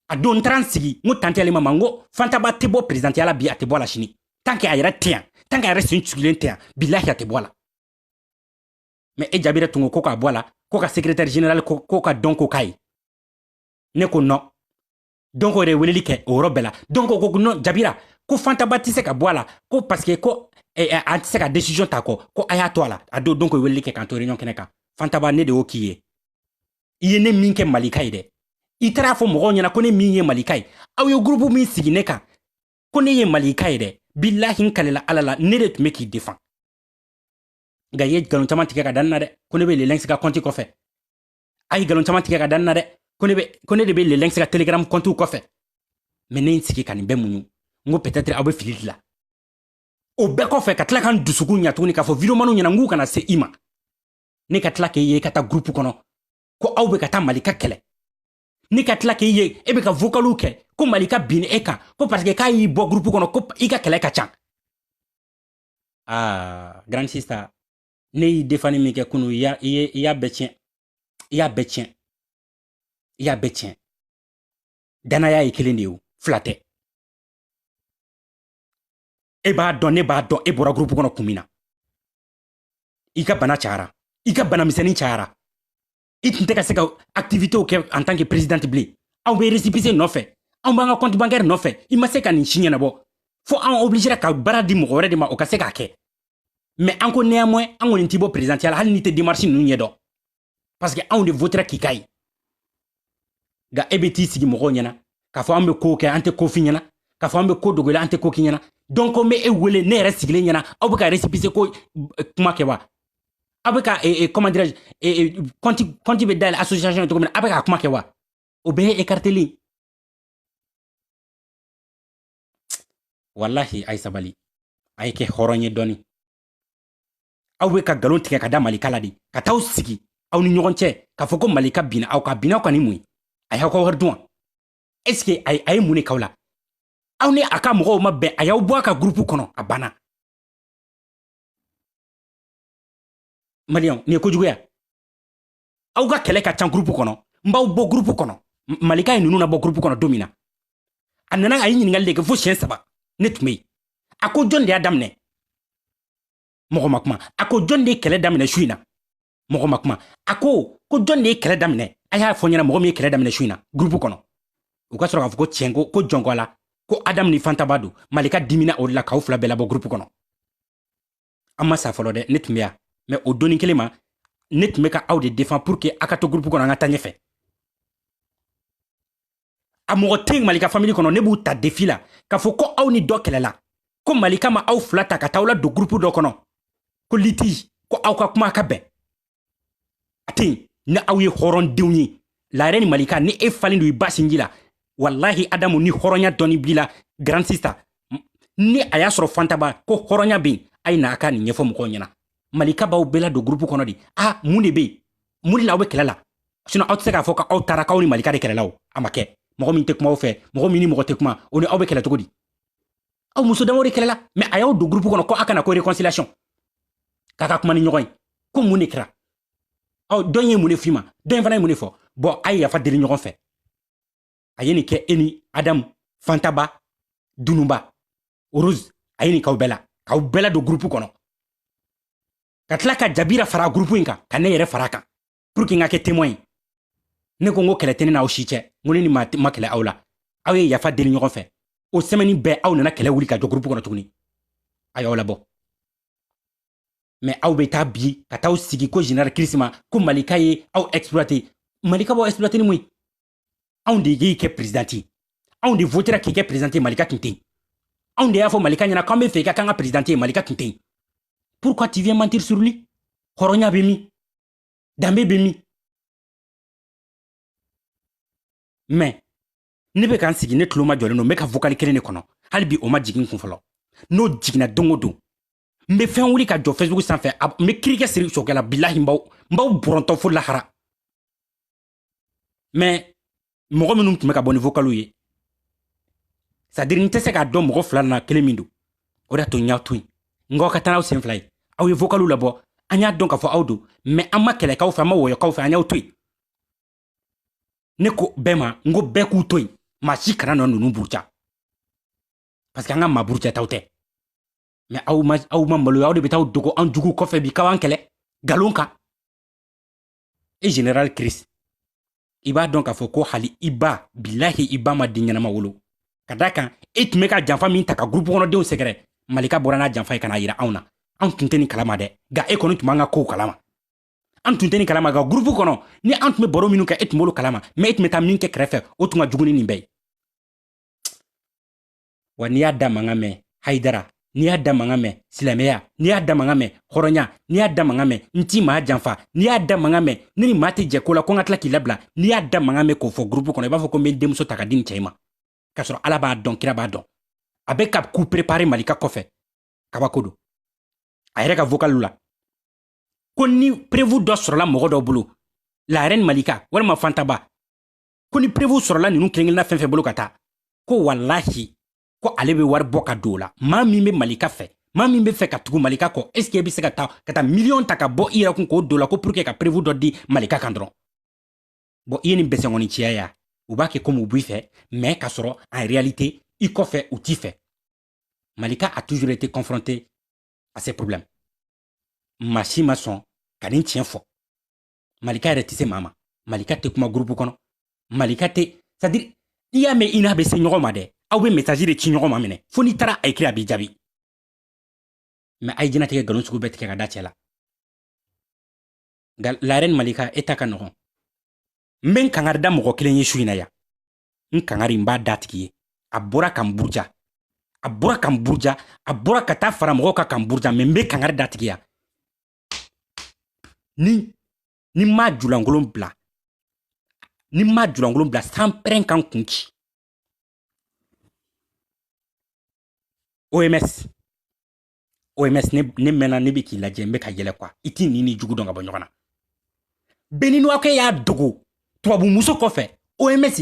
a don n taara n sigi n ko tanti alima ma n ko fantaba tɛ bɔ perezidantiya la bi a tɛ bɔ a la sini tan ke a yɛrɛ tɛ yan tan ke a yɛrɛ sen cugilen tɛ yan bilahi a tɛ bɔ a la mɛ e jabira tun ko ko k'a bɔ a la ko ka sekretɛri general ko ko ka dɔnko k'a ye ne ko nɔn dɔnko yɛrɛ weleli kɛ o yɔrɔ bɛɛ la dɔnko ko nɔn jabira ko fantaba tɛ se ka bɔ a la ko paseke ko eh, eh, an tɛ se ka decision ta a kɔ ko a y'a to a la a don dɔnko weleli kɛ k'an to réunion kɛnɛ kan fantaba ne de y'o k'i ye i ye ne min kɛ malika ye dɛ i taara fɔ mɔgɔw ɲɛna ko ne min ye malika ye aw ye gurupu min sigi ne kan ko ne ye malika ye dɛ bilahi n kalela ala la ne de tun be k'i defan nka i ye nkalon caman tigɛ ka da n na dɛ ko ne be lelɛnsi ka kɔnti kɔfɛ a ye nkalon caman tigɛ ka da n na dɛ ko ne de be lelɛnsi ka telegram kɔntiw kɔfɛ mɛ ne n sigi ka nin bɛɛ muɲu n ko peut-être aw be fili de la o bɛɛ kɔfɛ ka tila ka n dusukun ɲa tuguni k'a fɔ videomaniw ɲɛna n k'u kana se i ma ne ka tila k'e ye i ka taa gurupu kɔnɔ ko aw bɛ ka taa malika kɛlɛ ne ka tila k'e ye e bɛ ka vokaliw kɛ ko malika binna e kan ko parce que k'a y'i bɔ gurupu kɔnɔ ko i ka kɛlɛ ka ca aa grand sista ne y'i defani min kɛ kunu i y'a bɛɛ tiɲɛ i y'a bɛɛ tiɲɛ i y'a bɛɛ tiɲɛ danaya ye kelen de ye fila tɛ e b'a dɔn ne b'a dɔn e bɔra gurupu kɔnɔ kun min na i ka bana cayara i ka bana misɛnnin cayara i tun tɛ ka se ka activitew kɛ en tant que présidente bilen anw bɛ récépissé nɔfɛ anw b'an ka compte bancaire nɔfɛ i ma se ka nin si ɲɛnabɔ fo an obligera ka baara di mɔgɔ wɛrɛ de ma o ka se k'a kɛ mais an ko néanmoins an kɔni t'i bɔ présidentiya la hali n'i tɛ démarche ninnu ɲɛdɔn parce que anw de votera k'i k'a ye nka e bɛ t'i sigi mɔgɔw ɲɛna k'a fɔ an bɛ ko kɛ an tɛ ko f'i ɲɛna k'a fɔ an bɛ ko dogo la an tɛ ko k'i ɲɛna donc n bɛ e wele ne yɛrɛ sigilen ɲɛna aw bɛ ka récépissé ko eh, kuma kɛ wa aw bɛ ka eh, eh, comment dirais je compte compte bɛ dayɛlɛ association ye cogo min na aw bɛ k'a kuma kɛ wa o bɛɛ ye écarteli walahi a ye sabali a ye kɛ hɔrɔn ye dɔɔni aw be ka galon tigɛ ka da malika la de ka t'aw sigi aw ni ɲɔgɔn cɛ k'a fɔ ko malika binna aw kan binna aw kan ni mun ye a y'aw ka wari dun wa est ce que a ye mun de k'aw la aw ni a ka mɔgɔw ma bɛn a y'aw bɔ a ka gurupu kɔnɔ a banna maliyɛnw nin ye kojuguya aw ka kɛlɛ ka can gurupu kɔnɔ n b'aw bɔ gurupu kɔnɔ malika ye ninnu labɔ gurupu kɔnɔ don min na a nana a ye ɲininkali de kɛ fo siɲɛ saba ne tun be yen a ko jɔn de y'a daminɛ mɔgɔ ma kuma a ko jɔn de ye kɛlɛ daminɛ su in na mɔgɔ ma kuma a ko ko jɔn de ye kɛlɛ daminɛ a y'a fɔ n ɲɛna mɔgɔ min ye kɛlɛ daminɛ su in na gurupu kɔnɔ u ka sɔrɔ k'a fɔ ko tiɲɛ ko ko jɔn ko a la ko adamu ni fantaba don malika dimina o de la k'aw fila bɛɛ labɔ gurupu kɔnɔ an ma sa fɔlɔ dɛ ne tun bɛ yan mais o don in kelen ma ne tun bɛ ka aw de défendre pour que a ka to gurupu kɔnɔ an ka taa ɲɛfɛ a mɔgɔ tɛ yen malika famili kɔnɔ ne b'u ta défi la k'a fɔ ko aw ni dɔ kɛlɛla ko malika ma aw fila ta ka taa aw ladon gurupu dɔ kɔnɔ ko litige ko aw ka kuma ka bɛn a tɛ yen ni aw ye hɔrɔndenw ye laɛrɛ ni malika ni e falen don i ba sinji la walahi adamu ni hɔrɔnya dɔɔni b'i la grand sista ni a y'a sɔrɔ fantaba ko hɔrɔnya bɛ yen a ye na a ka nin ɲɛfɔ mɔgɔw ɲɛna malika b'aw bɛɛ ladon gurupu kɔnɔ de a mun de bɛ yen mun de la aw bɛ kɛlɛ la sinon aw tɛ se k'a fɔ ko aw taara k'aw ni malika de kɛlɛla o a ma kɛ mɔgɔ min tɛ kuma aw fɛ mɔgɔ min ni mɔgɔ tɛ kuma o ni aw bɛ kɛlɛ cogo di aw muso damaw de kɛlɛla mais a y'aw don gurupu kɔnɔ ko a ka na ko réconciliation k'a ka kuma ni ɲɔgɔn ye ko mun de kɛra aw dɔ in ye mun de f'i ma dɔ in fana ye mun de fɔ bon a ye yafa deli ɲɔgɔn fɛ a ye nin kɛ e ni adamu fantaba dununba rose a ye nin k'aw bɛɛ la k'aw bɛɛ ladon gurupu kɔnɔ ka tila ka jabira fara gurupu in kan ka ne yɛrɛ fara kan pour que n ka kɛ témoin ye ne ko n ko kɛlɛ tɛ ne n'aw si cɛ n ko ne ni maa ma kɛlɛ aw la aw ye yafa deli ɲɔgɔn fɛ o semaine bɛɛ aw nana kɛlɛ wuli ka jɔ gurupu kɔnɔ tuguni a y'aw labɔ mais aw bɛ taa bi ka taa sigi ko général kirisima ko malika ye aw exploité malika b'aw exploité ni mun ye anw de y'i kɛ perezidanti ye anw de votera k'i kɛ perezidanti ye malika tun tɛ yen anw de y'a fɔ malika ɲɛna k'an b'a fɛ i ka k'an ka perezidanti ye malika tun tɛ yen pourquoi tu viens mentir sur lui hɔrɔnya bɛ min danbe bɛ min mɛ ne bɛ ka n sigi ne tulo majɔlen don n bɛ ka vokali kelen de kɔnɔ hali bi o ma jigin n kun fɔlɔ n'o jiginna don o don n bɛ fɛn wuli ka jɔ facebook sanfɛ n bɛ kirikɛ siri sokɛ la bilahi n b'aw n b'aw bɔrɔntɔ fo lahara mɛ mɔgɔ minnu tun bɛ ka bɔ ni vokalu ye sadiri n tɛ se k'a dɔn mɔgɔ fila na kelen min don o de y'a to n y'a to yen n k'aw ka taa n'aw sen fila ye aw ye vokalu labɔ an y'a dɔn k'a fɔ aw don mɛ an ma kɛlɛ k'aw fɛ an ma wɔyɔ k'aw fɛ an y'aw to yen ne ko bɛɛ ma n ko bɛɛ k'u to yen maa si kana nɔ ninnu buruja parce que an ka maa burujataw tɛ mɛ aw ma aw ma maloya aw de bɛ taa dogo an jugu kɔfɛ bi k'aw an kɛlɛ nkalon kan e general chris i b'a dɔn k'a fɔ ko hali i ba bilahi i ba ma den ɲɛnama wolo ka d'a kan e tun bɛ ka janfa min ta ka gurupu kɔnɔdenw sɛgɛrɛ malika bɔra n'a janfa ye ka n'a yira anw na anw tun tɛ nin kalama dɛ nka e kɔni tun b'an ka kow kalama an tun tɛ nin kalama nka gurupu kɔnɔ ni an tun bɛ baro minnu kɛ e tun b'olu kalama mɛ e tun bɛ taa min kɛ kɛrɛfɛ o tun ka jugu ni nin bɛɛ ye wa n'i y'a da mankan mɛn hayidara n'i y'a da mankan mɛn silamɛya n'i y'a da mankan mɛn hɔrɔnya n'i y'a da mankan mɛn n tɛ maa janfa n'i y'a da mankan mɛn ne ni maa tɛ jɛ ko la ko n ka tila k'i labila n'i y'a da mankan mɛn k'o fɔ gurupu kɔnɔ i b'a fɔ ko n bɛ n denmuso ta ka di nin cɛ in ma k'a sɔrɔ ala b'a dɔn kira b'a dɔn a bɛ ka ku perepare malika kɔfɛ kabako don a yɛrɛ ka vokalu la ko ni prevu dɔ sɔrɔla mɔgɔ dɔ bolo la reine malika walima fantaba ko ni perewu sɔrɔla ninnu kelenkelenna fɛn fɛn bolo ka taa ko walahi ko ale bɛ wari bɔ ka don o la maa min bɛ malika fɛ maa min bɛ fɛ ka tugu malika kɔ est ce que e bɛ se ka taa ka taa miliyɔn ta ka bɔ i yɛrɛ kun k'o don o la ko pour que ka perewu dɔ di malika kan dɔrɔn bɔn i ye nin bɛsɛnkɔni ciya ya u b'a kɛ komi u b'i fɛ mɛ k'a sɔrɔ en réalité i kɔfɛ u t'i fɛ malika a toujours été confronté à ces problèmes maa si ma sɔn ka nin tiɲɛ fɔ malika yɛrɛ tɛ se maa ma malika tɛ kuma gurupu kɔnɔ malika tɛ sadiri i y'a mɛn i n'a bɛ se ɲɔgɔn ma dɛ aw bɛ mesaji de ci ɲɔgɔn ma minɛ fo n'i taara a ekiri a b'i jaabi mɛ a ye jɛnatigɛ nkalon sugu bɛɛ tigɛ ka da cɛ la nka la reine malika e ta ka nɔgɔn n bɛ n kangari da mɔgɔ kelen ye su in na yan n kangari n b'a d'a tigi ye a bɔra ka n buruja a bɔra ka n buruja a bɔra ka taa fara mɔgɔw kan ka n buruja mɛ n bɛ kangari d'a tigi ya ni ne m'a julankolon bila ni n m'a julankolon bila sanpɛrɛn ka n kun ci oms oms ne, ne mɛnna ne bɛ k'i lajɛ n bɛ ka yɛlɛ kuwa i t'i ɲin n'i jugu dɔn ka bɔ ɲɔgɔn na beninuwakɛ y'a dogo tubabumuso kɔfɛ oms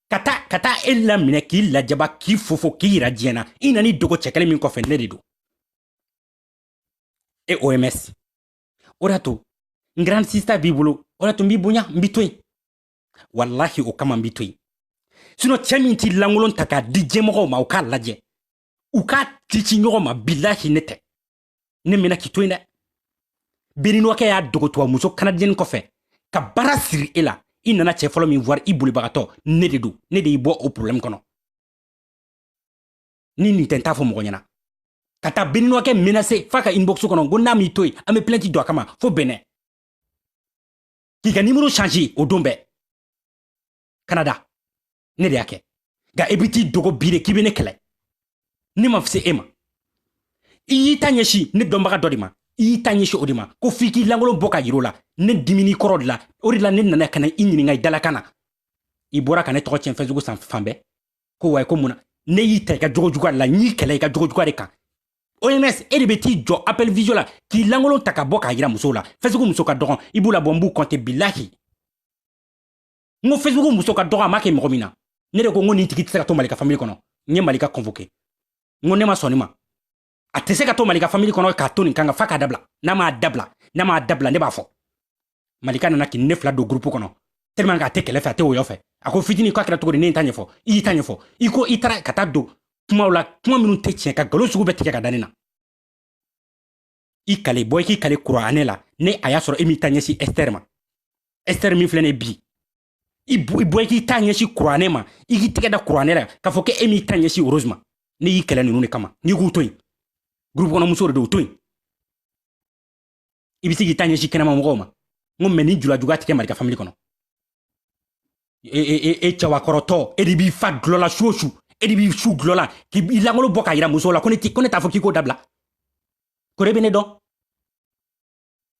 ka taa ka taa e laminɛ k'i lajaba k'i fofo k'i yira diɲɛ na i nana i dogo cɛ kelen min kɔfɛ ne de don e oms o de y'a to n grand sista b'i bolo o de y'a to n b'i bonya n b'i to yen walahi o kama n b'i to yen sinon cɛ min t'i lankolon ta k'a di diɲɛmɔgɔw ma u k'a lajɛ u k'a cici ɲɔgɔn ma bilahi ne tɛ ne mɛnna k'i to yen dɛ beninuwakɛ y'a dogo tubabumuso kanadiyɛni kɔfɛ ka baara siri e la i nana cɛ fɔlɔ min bara i bolibagatɔ ne de don ne de y'i bɔ o problɛmu kɔnɔ ni nin tɛ n t'a fɔ mɔgɔ ɲɛna ka taa beninuwakɛ menase f'a ka inbox kɔnɔ ko n'a m'i to yen an bɛ plɛnti don a kama fo benin k'i ka nimoro change o don bɛɛ kanada ne de y'a kɛ nka i bɛ t'i dogo bi de k'i bɛ ne kɛlɛ ne ma fise e ma i y'i ta ɲɛsin ne dɔnbaga dɔ de ma i y'i ta ɲɛsin o de ma ko f'i k'i lankolon bɔ ka yir'o la ne dimin'i kɔrɔ o de la o de la ne nana ka na i ɲininka i dalakan na i bɔra ka ne tɔgɔ tiɲɛ facebook san fan bɛɛ ko wayi ko mun na ne y'i ta i ka jogo juguya la n y'i kɛlɛ i ka jogo juguya de kan oms e de bɛ t'i jɔ appel visio la k'i lankolon ta ka bɔ k'a yira musow la facebook muso ka dɔgɔn i b'u labɔ n b'u kɔnte bilahi n ko facebook muso ka dɔgɔn a ma kɛ mɔgɔ min na ne de ko n ko nin tigi tɛ se ka to malika famili kɔnɔ n ye malika convoke n ko ne ma sɔn nin ma a tɛ se ka to malika famili kɔnɔ k'a to nin kan ko f'a k'a dabila n'a m'a dabila n'a m'a dabila ne b'a fɔ malika nana k'i ne fila don gurupu kɔnɔ tellement k'a tɛ kɛlɛ fɛ a tɛ woyɔ fɛ a ko fitini k'a kɛra cogo di ne ta ɲɛfɔ i y'i ta ɲɛfɔ i ko i taara ka taa don kumaw la kuma minnu tɛ tiɲɛ ka nkalon sugu bɛɛ tigɛ ka da ne na i kali bɔ i k'i kali kuranɛ la n'a y'a sɔrɔ e m'i ta ɲɛsin ɛsitɛri ma ɛsitɛri min filɛ ne bi i bɔ i k'i ta ɲɛsin kuranɛ ma i k'i tɛgɛ da kuranɛ la k'a fɔ ko e m'i ta ɲɛsin rose ma ne y'i kɛlɛ ninnu de kama n'i k'u to yen gurupu kɔnɔ muso de don u to yen i bɛ se k'i ta ɲɛsin kɛnɛma mɔgɔw ma n ko mais nin julajuguya tɛ kɛ malika famili kɔnɔ e, e, e, e cɛwakɔrɔtɔ e de b'i fa dɔlɔ la su o su e de b'i su dɔlɔ la k'i lankolon bɔ k'a yira musow la ko ne t'a fɔ k'i k'o dabila ko ne bɛ ne dɔn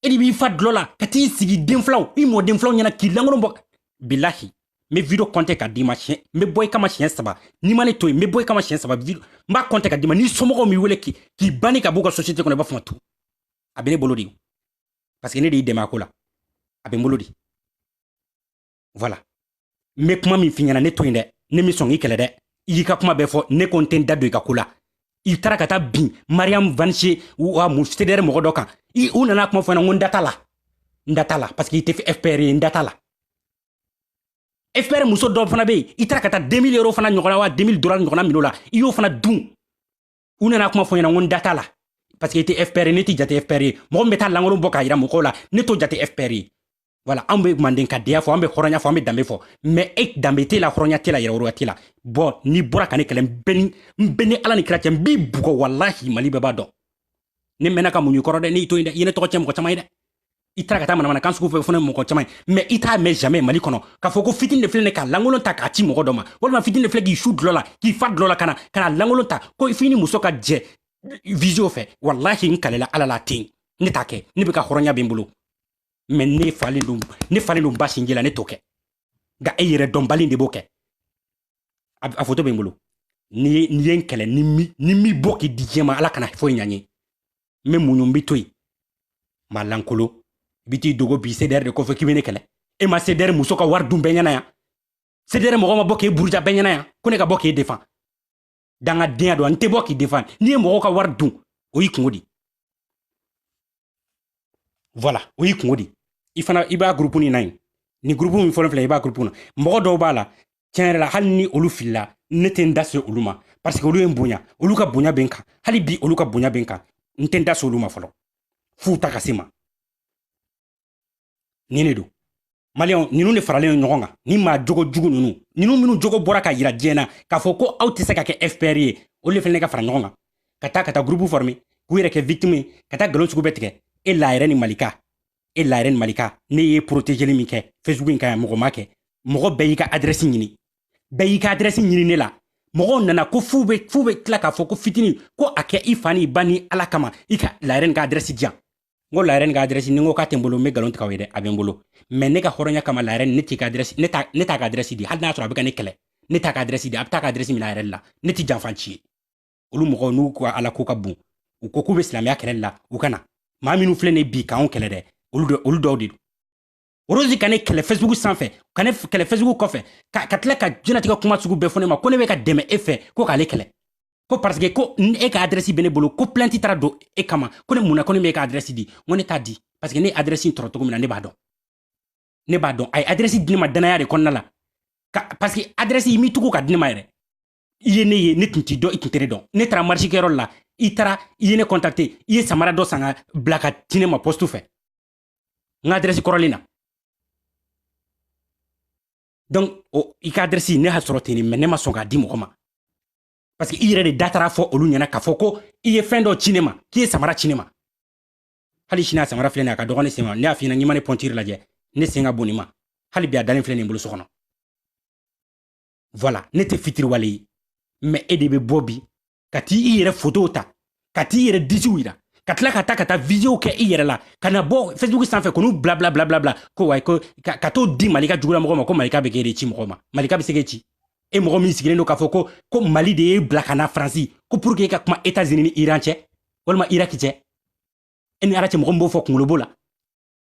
e de b'i fa dɔlɔ la ka t'i sigi denfilaw i mɔdenfilaw ɲɛna k'i lankolon bɔ bilahi n bɛ video kɔnte k'a d'i ma siɲɛ n bɛ bɔ i kama siɲɛ saba n'i ma ne to yen n bɛ bɔ i kama siɲɛ saba n b'a kɔnte k'a d'i ma n'i somɔgɔw m'i wele k'i banni ka b'u ka société kɔnɔ i b'a fɔ n ma tout a bɛ ne bolo de parce que ne de y'i dɛmɛ a ko la a bɛ n bolo de voilà n bɛ kuma min f'i ɲɛna ne to yen dɛ ne min sɔn k'i kɛlɛ dɛ i y'i ka kuma bɛɛ fɔ ne ko n tɛ n da don i ka ko la i taara ka taa bin mariam vanise wa mu cdr mɔgɔ dɔ kan u nana kuma fɔ n ɲɛna ko n da t'a la n da t'a la parce que i tɛ fpr ye n da t'a la fpr muso dɔ fana bɛ yen i taara ka taa 2000 euro fana ɲɔgɔnna wa 2000 dollars ɲɔgɔnna minɛ o la i y'o fana dun u nana kuma fɔ ɲɛna ko n da t'a la parce que i tɛ fpr ne t'e jate fpr ye mɔgɔ min bɛ taa lankolon bɔ k'a yira mɔgɔw la ne t'o jate fpr ye voilà an bɛ mandenkadenya fɔ an bɛ hɔrɔnya fɔ an bɛ danbe fɔ mais e danbe t'e la hɔrɔnya t'e la yɛrɛwoloya t'e la bon n'i bɔra ka ne kɛlɛ n bɛ ni ala ni kira cɛ n b'i bugɔ walahi mali bɛɛ b'a dɔn ne mɛnna ka muɲu i kɔrɔ dɛ ne y'i to yen dɛ i ye ne tɔgɔ cɛn mɔgɔ caman ye dɛ i taara ka taa manamanakan sugu fɔ fana mɔgɔ caman ye mais i t'a mɛn jamais mali kɔnɔ k'a fɔ ko fitini de filɛ ne ka lankolon ta k'a ci mɔgɔ dɔ ma walima fitini de filɛ k'i su dulɔ la k'i fa dulɔ la ka na ka na lankolon ta ko f'i ni muso ka jɛ visio fɛ walahi n kalela ala la ten ne t'a kɛ ne bɛ ka hɔrɔnya bɛ n bolo mais ne falen don ne falen don ba sinji la ne t'o kɛ nka e yɛrɛdɔnbali de b'o kɛ a foto bɛ n bolo n'i ye n kɛlɛ ni n m'i bɔ k'i di diɲɛ ma ala kana foyi ɲa n ye n bɛ muɲu n b'e to yen maa lankolon i bɛ t'i dogo bi cdr de kɔfɛ k'i bɛ ne kɛlɛ e ma cdr muso ka wari dun bɛɛ ɲɛna yan cdr mɔgɔ ma bɔ k'e buruja bɛɛ ɲɛna yan ko ne ka bɔ k'e defan dangadenya don n tɛ bɔ k'i defan n'i ye mɔgɔw ka wari dun o y'i kunko di voilà o y'i kunko di i fana i b'a gurupu nin na yen nin gurupu min fɔlɔ filɛ i b'a gurupu na mɔgɔ dɔw b'a la tiɲɛ yɛrɛ la hali ni olu filila ne tɛ n da se olu ma parce que olu ye n bonya olu ka bonya bɛ n kan hali bi olu ka bonya bɛ n kan n tɛ n da se olu ma fɔlɔ f'u da ka se n ma nin de don maliyɛnw ninnu de faralen ɲɔgɔn kan ni maa jogo jugu ninnu ninnu minnu jogo bɔra k'a yira diɲɛ na k'a fɔ ko aw tɛ se ka kɛ fpr ye olu de fana ka fara ɲɔgɔn kan ka taa ka taa gurupu fɔrme k'u yɛrɛ kɛ victime ye ka taa nkalon sugu bɛɛ tigɛ e la reine malika e la reine malika ne ye porotejeli min kɛ facebook in kan yan mɔgɔ m'a kɛ mɔgɔ bɛɛ y'i ka adrɛsi ɲini bɛɛ y'i ka adrɛsi ɲini ne la mɔgɔw nana ko f'u be f'u be tila k'a fɔ ko fitini ko a kɛ i fa n'i ba ni ala kama i ka la reine ka adrɛsi di yan n ko la reine ka adrɛsi ni n ko k'a tɛ n bolo n be nkalon tigɛ aw ye dɛ a be n bolo mais ne ka hɔrɔnya kama la reine ne t'i ka adrɛsi ne t'a ne t'a ka adrɛsi di hali n'a sɔrɔ a be ka ne kɛlɛ ne t'a ka adrɛsi di a be taa ka adrɛsi mina a yɛrɛ la ne tɛ janfanci ye olu mɔgɔw n'u ko ala ko ka bon u ko k'u bɛ silamɛya kɛlɛli la u ka na maa minnu filɛ nin bi k'anw kɛlɛ dɛ olu dɔw de don orozi ka ne kɛlɛ facebook sanfɛ ka ne kɛlɛ facebook kɔfɛ ka tila ka jɛnatigɛ kuma sugu bɛɛ fɔ ne ma ko ne bɛ ka dɛmɛ e fɛ ko k'ale kɛlɛ ko parce que ko e ka adrɛsi bɛ ne bolo ko plainte taara don e kama ko ne mun na ko ne bɛ e ka adrɛsi di n ko ne t'a di parce que ne adrɛsi sɔrɔ cogo min na ne b'a dɔn ne b'a dɔn a ye adrɛsi di ne ma danaya de kɔnɔna la parce que adrɛsi i m'i tugu ka di ne ma yɛrɛ i ye ne ye ne tun t'i dɔn i tun tɛ ne dɔn ne taara marisikɛyɔrɔ la i taara i ye ne kɔntakte i ye samara dɔ san k'a bila k'a ci ne ma pɔstu fɛ n ka adrɛsi kɔrɔlen na donc o i ka adrɛsi ne y'a sɔrɔ ten mais ne ma sɔn k'a di mɔgɔ ma parce que i yɛrɛ de da taara fɔ olu ɲɛna k'a fɔ ko i ye fɛn dɔ ci ne ma k'i ye samara ci ne ma hali sini a samara filɛ nin a ka dɔgɔn ne sen ma ne y'a f'i ɲɛna n'i ma ne pointure lajɛ ne sen ka bon nin ma hali bi a dalen filɛ nin n bolo so kɔnɔ voilà ne tɛ fitiriwale ye mais e de bɛ bɔ bi ka t'i i yɛrɛ fotow ta ka t'i yɛrɛ disiw yira ka tila ka taa ka taa visio kɛ i yɛrɛ la ka na bɔ facebook sanfɛ k'olu bila bila bila bila bila ko wayi ko ka t'o di malika jugula mɔgɔ ma ko malika bɛ k'e de ci mɔgɔ ma malika bɛ se k'e ci e mɔgɔ min sigilen don k'a fɔ ko ko mali de y'e bila ka na faransi ko pour que e ka kuma etats unis ni iran cɛ walima iraki cɛ e ni ala cɛ mɔgɔ min b'o fɔ kunkolo b'o la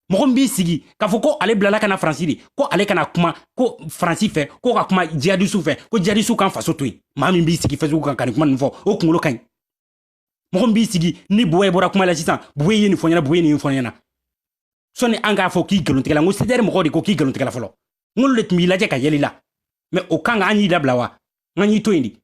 mɔgɔ min b'i sigi k'a fɔ ko ale bilala ka na faransi de ko ale kana kuma ko faransi fɛ ko ka kuma jihadistes fɛ ko jihadistes k'an faso to yen maa min b'i sigi facebook kan ka nin kuma nin fɔ o kunkolo ka ɲi mɔgɔ min b'i sigi ni bowa ye bɔra kuma la sisan bowa ye nin fɔ ɲɛna bowa ye nin fɔ ɲɛna sɔni an k'a fɔ k'i nkalontigɛla n ko cdr mɔgɔw de ko k'i nkalontigɛla fɔlɔ n k'olu de tun b'i lajɛ ka yɛlɛ i la mais o kan ka an y'i dabila wa n ka y'i to yen de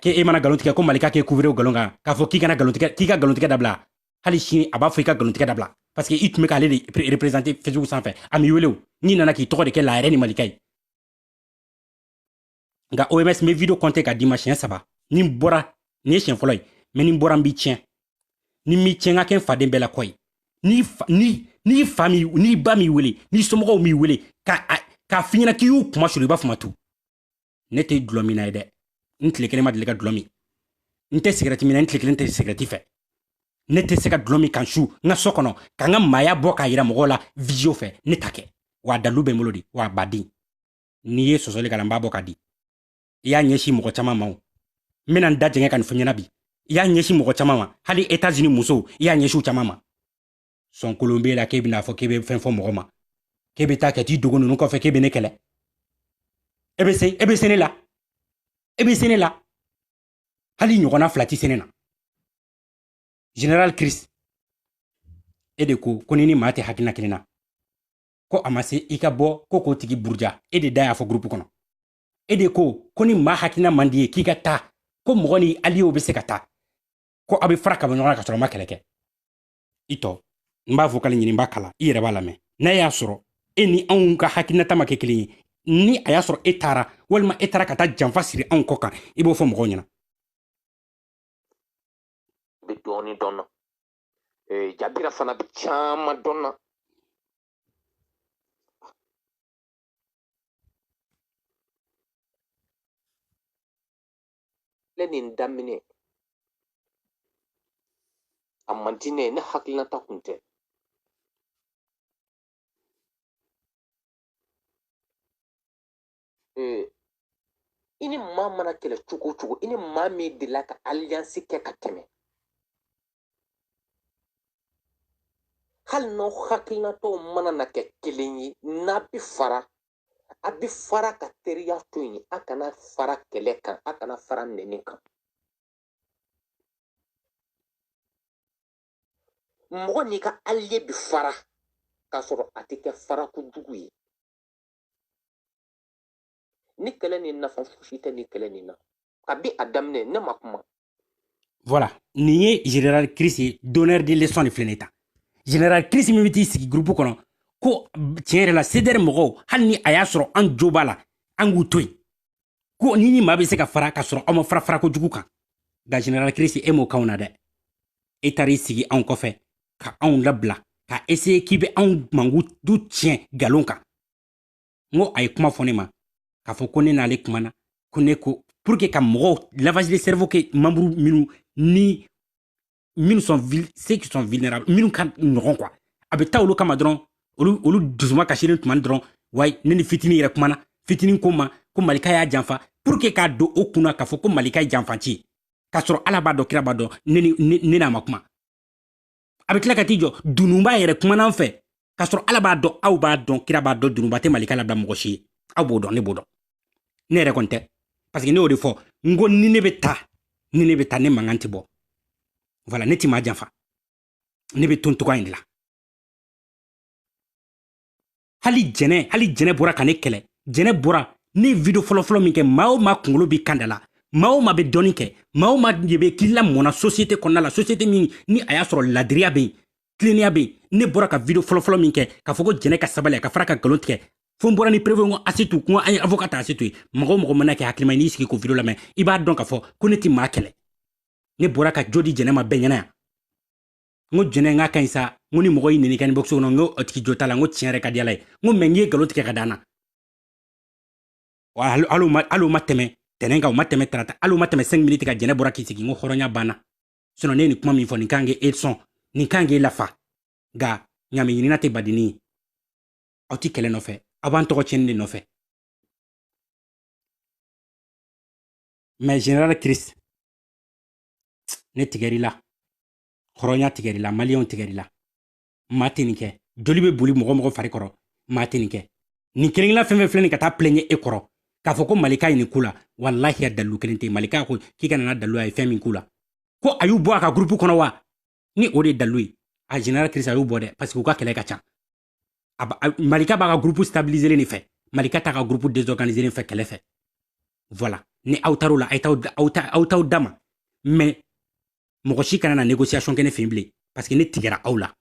k'e mana galontigɛ ko malika k'e couvrir o galon kan k'a fɔ k'i kana galontigɛ k'i ka galontigɛ dabila hali sini a b'a fɔ i ka galontigɛ dabila parce que i tun bɛ k'ale de représenter facebook sanfɛ a m'i wele o n'i nana k'i tɔgɔ de kɛ la yɛrɛ ni malika ye nka oms n bɛ video compter ka d'i ma siɲɛ saba ni n bɔra nin ye siɲɛ fɔlɔ ye mais ni n bɔra n b'i tiɲɛ ni n m'i tiɲɛ n ka kɛ n faden bɛɛ la kɔ ye n'i fa n'i ba m'i wele n'i somɔgɔw m'i wele k'a f'i ɲɛna k'i y'u kunmasuuru i b'a fɔ ma tu ne tɛ dulɔminna ye dɛ n tile kelen ma deli ka dulɔ min n tɛ sigɛrɛti min na n tile kelen tɛ sigɛrɛti fɛ ne tɛ se ka dulɔ min ka n su n ka so kɔnɔ ka n ka maaya bɔ k'a yira mɔgɔw la visio fɛ ne t'a kɛ wa dalu bɛ n bolo de wa baden n'i ye sɔsɔli k'a la n b'a bɔ ka di i y'a ɲɛsin mɔgɔ caman ma o n bɛna n da jɛngɛ ka nin fɔ ɲɛna bi i y'a ɲɛsin mɔgɔ caman ma hali etats unis musow i y'a ɲɛsin u caman ma sɔnkolon b'e la k'e bɛna fɔ k'e bɛ fɛn fɔ mɔgɔ ma k'e bɛ taa ka t'i dogo ninnu kɔfɛ k'e bɛ ne kɛlɛ e bɛ se e bɛ se ne la e bɛ se ne la hali ɲɔgɔnna fila tɛ se ne na general chris e de ko ko ni ni maa tɛ hakilina kelen na ko a ma se i ka bɔ ko k'o tigi buruja e de da y'a fɔ gurupu kɔnɔ e de ko ko ni maa hakilina man di ye k'i ka taa ko mɔgɔ ni aliyew bɛ se ka taa ko aw bɛ fara ka bɔ ɲɔgɔn na ka sɔrɔ a ma kɛlɛ kɛ i tɔ n b'a vocal ɲini n b'a kala i yɛrɛ b'a lamɛn n'a y'a sɔrɔ e ni anw ka hakilinata ma kɛ kelen ye ni a y'a sɔrɔ e taara walima e taara ka taa janfa siri anw kɔ kan i b'o fɔ mɔgɔw ɲɛna bɛ dɔɔnin dɔn na jabira fana bɛ caman dɔn na kɛlɛ nin daminɛ a man di ne ye ne hakilinata kun tɛ ee i ni maa mana kɛlɛ cogo o cogo i ni maa min delila ka alliance kɛ ka tɛmɛ hali n'aw hakilinataw mana na kɛ kelen ye n'a bɛ fara a bɛ fara ka teriya to yen a kana fara kɛlɛ kan a kana fara nɛni kan mɔgɔ n'i ka aliye bɛ fara k'a sɔrɔ a tɛ kɛ fara kojugu ye ni kɛlɛ ni nafa fosi tɛ ni kɛlɛ nin na kabi a daminɛ ne ma kuma voilà nin ye general chris ye donneur de leçon de filɛ nin ta general chris min bɛ t'i sigi groupe kɔnɔ ko tiɲɛ yɛrɛ la cdr mɔgɔw hali ni a y'a sɔrɔ an jo b'a la an k'u to yen ko ni ni maa bɛ se ka fara ka sɔrɔ aw ma fara fara kojugu kan nka general chris e m'o k'anw na dɛ e taara i sigi anw kɔfɛ ka anw labila ka essayer k'i bɛ anw mankutu tiɲɛ nkalon kan n ko a ye kuma fɔ ne ma k'a fɔ ko ne n'ale kumana ko ne ko pour que ka mɔgɔw lavage de cerveau kɛ membre minnu ni minnu sont ceux qui sont vulnérables minnu ka nɔgɔn quoi a bɛ taa olu kama dɔrɔn olu olu dusuma kasilen tuma dɔrɔn wayi ne ni fitinin yɛrɛ kumana fitinin ko n ma ko malika y'a janfa pour que k'a don o kunna k'a fɔ ko malika ye janfanci ye k'a sɔrɔ ala b'a dɔn kira b'a dɔn ne n'a ma kuma a bɛ tila ka t'i jɔ dununba yɛrɛ kumana n fɛ k'a sɔrɔ ala b'a dɔn aw b'a dɔn kira b'a dɔn dununba tɛ malika labila mɔgɔ si ye aw b'o dɔn ne b'o dɔn ne yɛrɛ kɔni tɛ parce que ne y'o de fɔ n ko ni ne bɛ taa ni ne bɛ taa ne mankan tɛ bɔ voilà ne ti maa janfa ne bɛ to n togoya in de la hali jɛnɛ hali jɛnɛ bɔra ka ne kɛlɛ jɛnɛ bɔra ne video fɔlɔfɔlɔ min kɛ maa o maa kunkolo b'i kan da la maa o maa bɛ dɔnni kɛ maa o maa de bɛ k'i lamɔna sosiyete kɔnɔna la sosiyete min ni a y'a sɔrɔ ladiriya bɛ yen tilennenya bɛ yen ne bɔra ka video fɔlɔfɔlɔ min kɛ k'a fɔ ko jɛnɛ ka sabali a ka fara ka nkalon tigɛ fo n bɔra ni preuve ko asetu ko an ye avoka ta asetu ye mɔgɔ o mɔgɔ mana kɛ hakilima ye n'i sigi k'o video lamɛn i b'a dɔn k'a fɔ ko ne tɛ maa kɛlɛ ne bɔra ka jo di jɛnɛ ma bɛɛ ɲɛna yan n ko jɛnɛ n k'a ka ɲi sa n ko ni mɔgɔ y'i nɛni kɛ inbox kɔnɔ n ko o tigi jo t'a la n ko tiɲɛ yɛrɛ ka di ala ye n ko mais i ye nkalon tigɛ ka d'an na hali o ma tɛmɛ tɛnɛn kan o ma tɛmɛ tarata hali o ma tɛmɛ 5 miniti kan jɛnɛ bɔra k'i sigi n ko hɔrɔnya banna sinon ne ye nin kuma min fɔ nin kan k'e e sɔn nin kan k'e e lafa nka ɲaami ɲinina tɛ badini ye aw ti kɛlɛ nɔfɛ aw b'an tɔgɔ tiɲɛni de nɔfɛ mais general chris ne tigɛr'i la hɔrɔnya tigɛr'i la maliyɛnw tigɛr'i la maa tɛ nin kɛ joli bɛ boli mɔgɔ o mɔgɔ fari kɔrɔ maa tɛ nin kɛ nin kelenkelenna fɛn o fɛn filɛ nin ka taa pilɛɲɛ e kɔrɔ k'a fɔ ko malika ye nin k'u la walahi a dalilu kelen tɛ malika ko k'i ka na n'a dalilu a ye fɛn min k'u la ko a y'u bɔ a ka gurupu kɔnɔ wa ni o de ye dalilu ye a general chris a y'u bɔ dɛ parce que u ka kɛlɛ ka ca malika b'a ka groupe stabiliser nin fɛ malika t'a ka groupe désorganiser nin fɛ kɛlɛ fɛ voilà ni aw taar'o la aw t'aw dama mais mɔgɔ si kana na négociation kɛ ne fɛ yen bilen parce que ne tigɛra aw la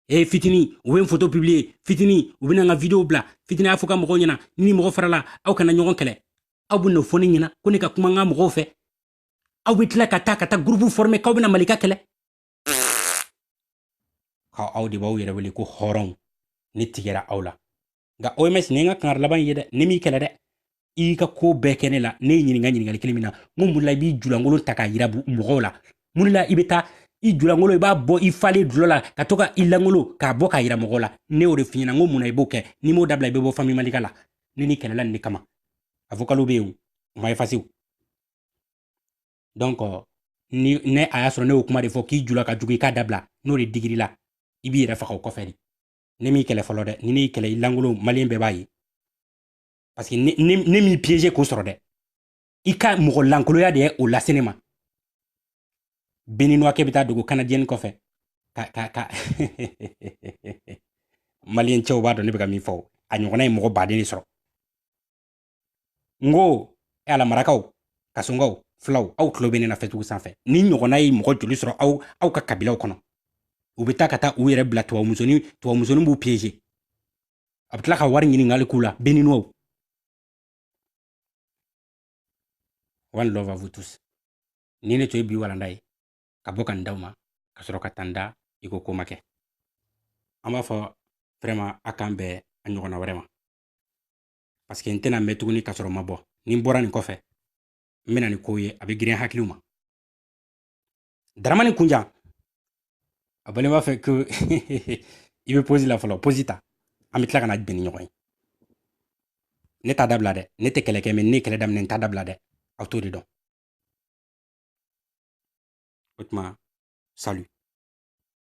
e fitini u bɛ n photo publier fitini u bɛna n ka video bila fitini y'a fɔ ka mɔgɔw ɲɛna ni ni mɔgɔ farala aw kana ɲɔgɔn kɛlɛ aw bɛ n'o fɔ ne ɲɛna ko ne ka kuma n ka mɔgɔw fɛ aw bɛ tila ka taa ka taa groupe former k'aw bɛna malika kɛlɛ ka aw de b'aw yɛrɛ wele ko hɔrɔnw ne tigɛra aw la nka oms nin ye n ka kangari laban ye dɛ ne m'i kɛlɛ dɛ i y'i ka ko bɛɛ kɛ ne la ne ye ɲininka ɲininkali kelen min na n ko mun la i b'i julankolon ta k'a yira mɔgɔw la mun la i bɛ taa i julankolon i b'a bɔ i falen dulɔ la ka to ka i lankolon k'a bɔ k'a yira mɔgɔw la ne y'o de f'i ɲɛna n ko mun na i b'o kɛ n'i m'o dabila i bɛ bɔ famille malika la ne n'i kɛlɛla nin de kama a vocal bɛ yen o ma effacer donc ni ne a y'a sɔrɔ ne y'o kuma de fɔ k'i jula ka jugu i k'a dabila n'o de digir'i la i b'i yɛrɛ faga o kɔfɛ de ne m'i kɛlɛ fɔlɔ dɛ ni ne y'i kɛlɛ i lankolon maliyɛn bɛɛ b'a ye parce que ne, ne, ne m'i piéger k'o sɔrɔ dɛ i ka mɔgɔ lankoloya de ye o lase ne ma béninois kɛ bɛ taa dogo canadienne kɔfɛ ka ka ka maliyɛn cɛw b'a dɔn ne bɛ ka min fɔ a ɲɔgɔnna ye mɔgɔ baden de sɔrɔ n ko e ala marakaw kasonkaw fulaw aw tulo bɛ ne na facebook sanfɛ nin ɲɔgɔnna ye mɔgɔ joli sɔrɔ aw aw ka kabilaw kɔnɔ u bɛ taa ka taa u yɛrɛ bila tubabumusoni tubabumusoni b'u piéger a bɛ tila ka wari ɲininkali k'u la béninois one love à vous tous nin de tun ye bi walanda ye ka bɔ ka n d'aw ma ka sɔrɔ ka taa n da i ko ko ma kɛ an b'a fɔ vraiment a k'an bɛn a ɲɔgɔnna wɛrɛ ma parce que n tɛna mɛn tuguni ka sɔrɔ n ma bɔ ni n bɔra nin kɔfɛ n bɛ na ni kow ye a bɛ girin hakiliw ma daramani kunjan a bɔlen b'a fɛ ko i bɛ pause la fɔlɔ pause ta an bɛ tila ka na bɛn ni ɲɔgɔn ye ne t'a dabila dɛ ne tɛ kɛlɛ kɛ mais ne ye kɛlɛ daminɛ n t'a dabila dɛ aw t'o de dɔn o tuma salut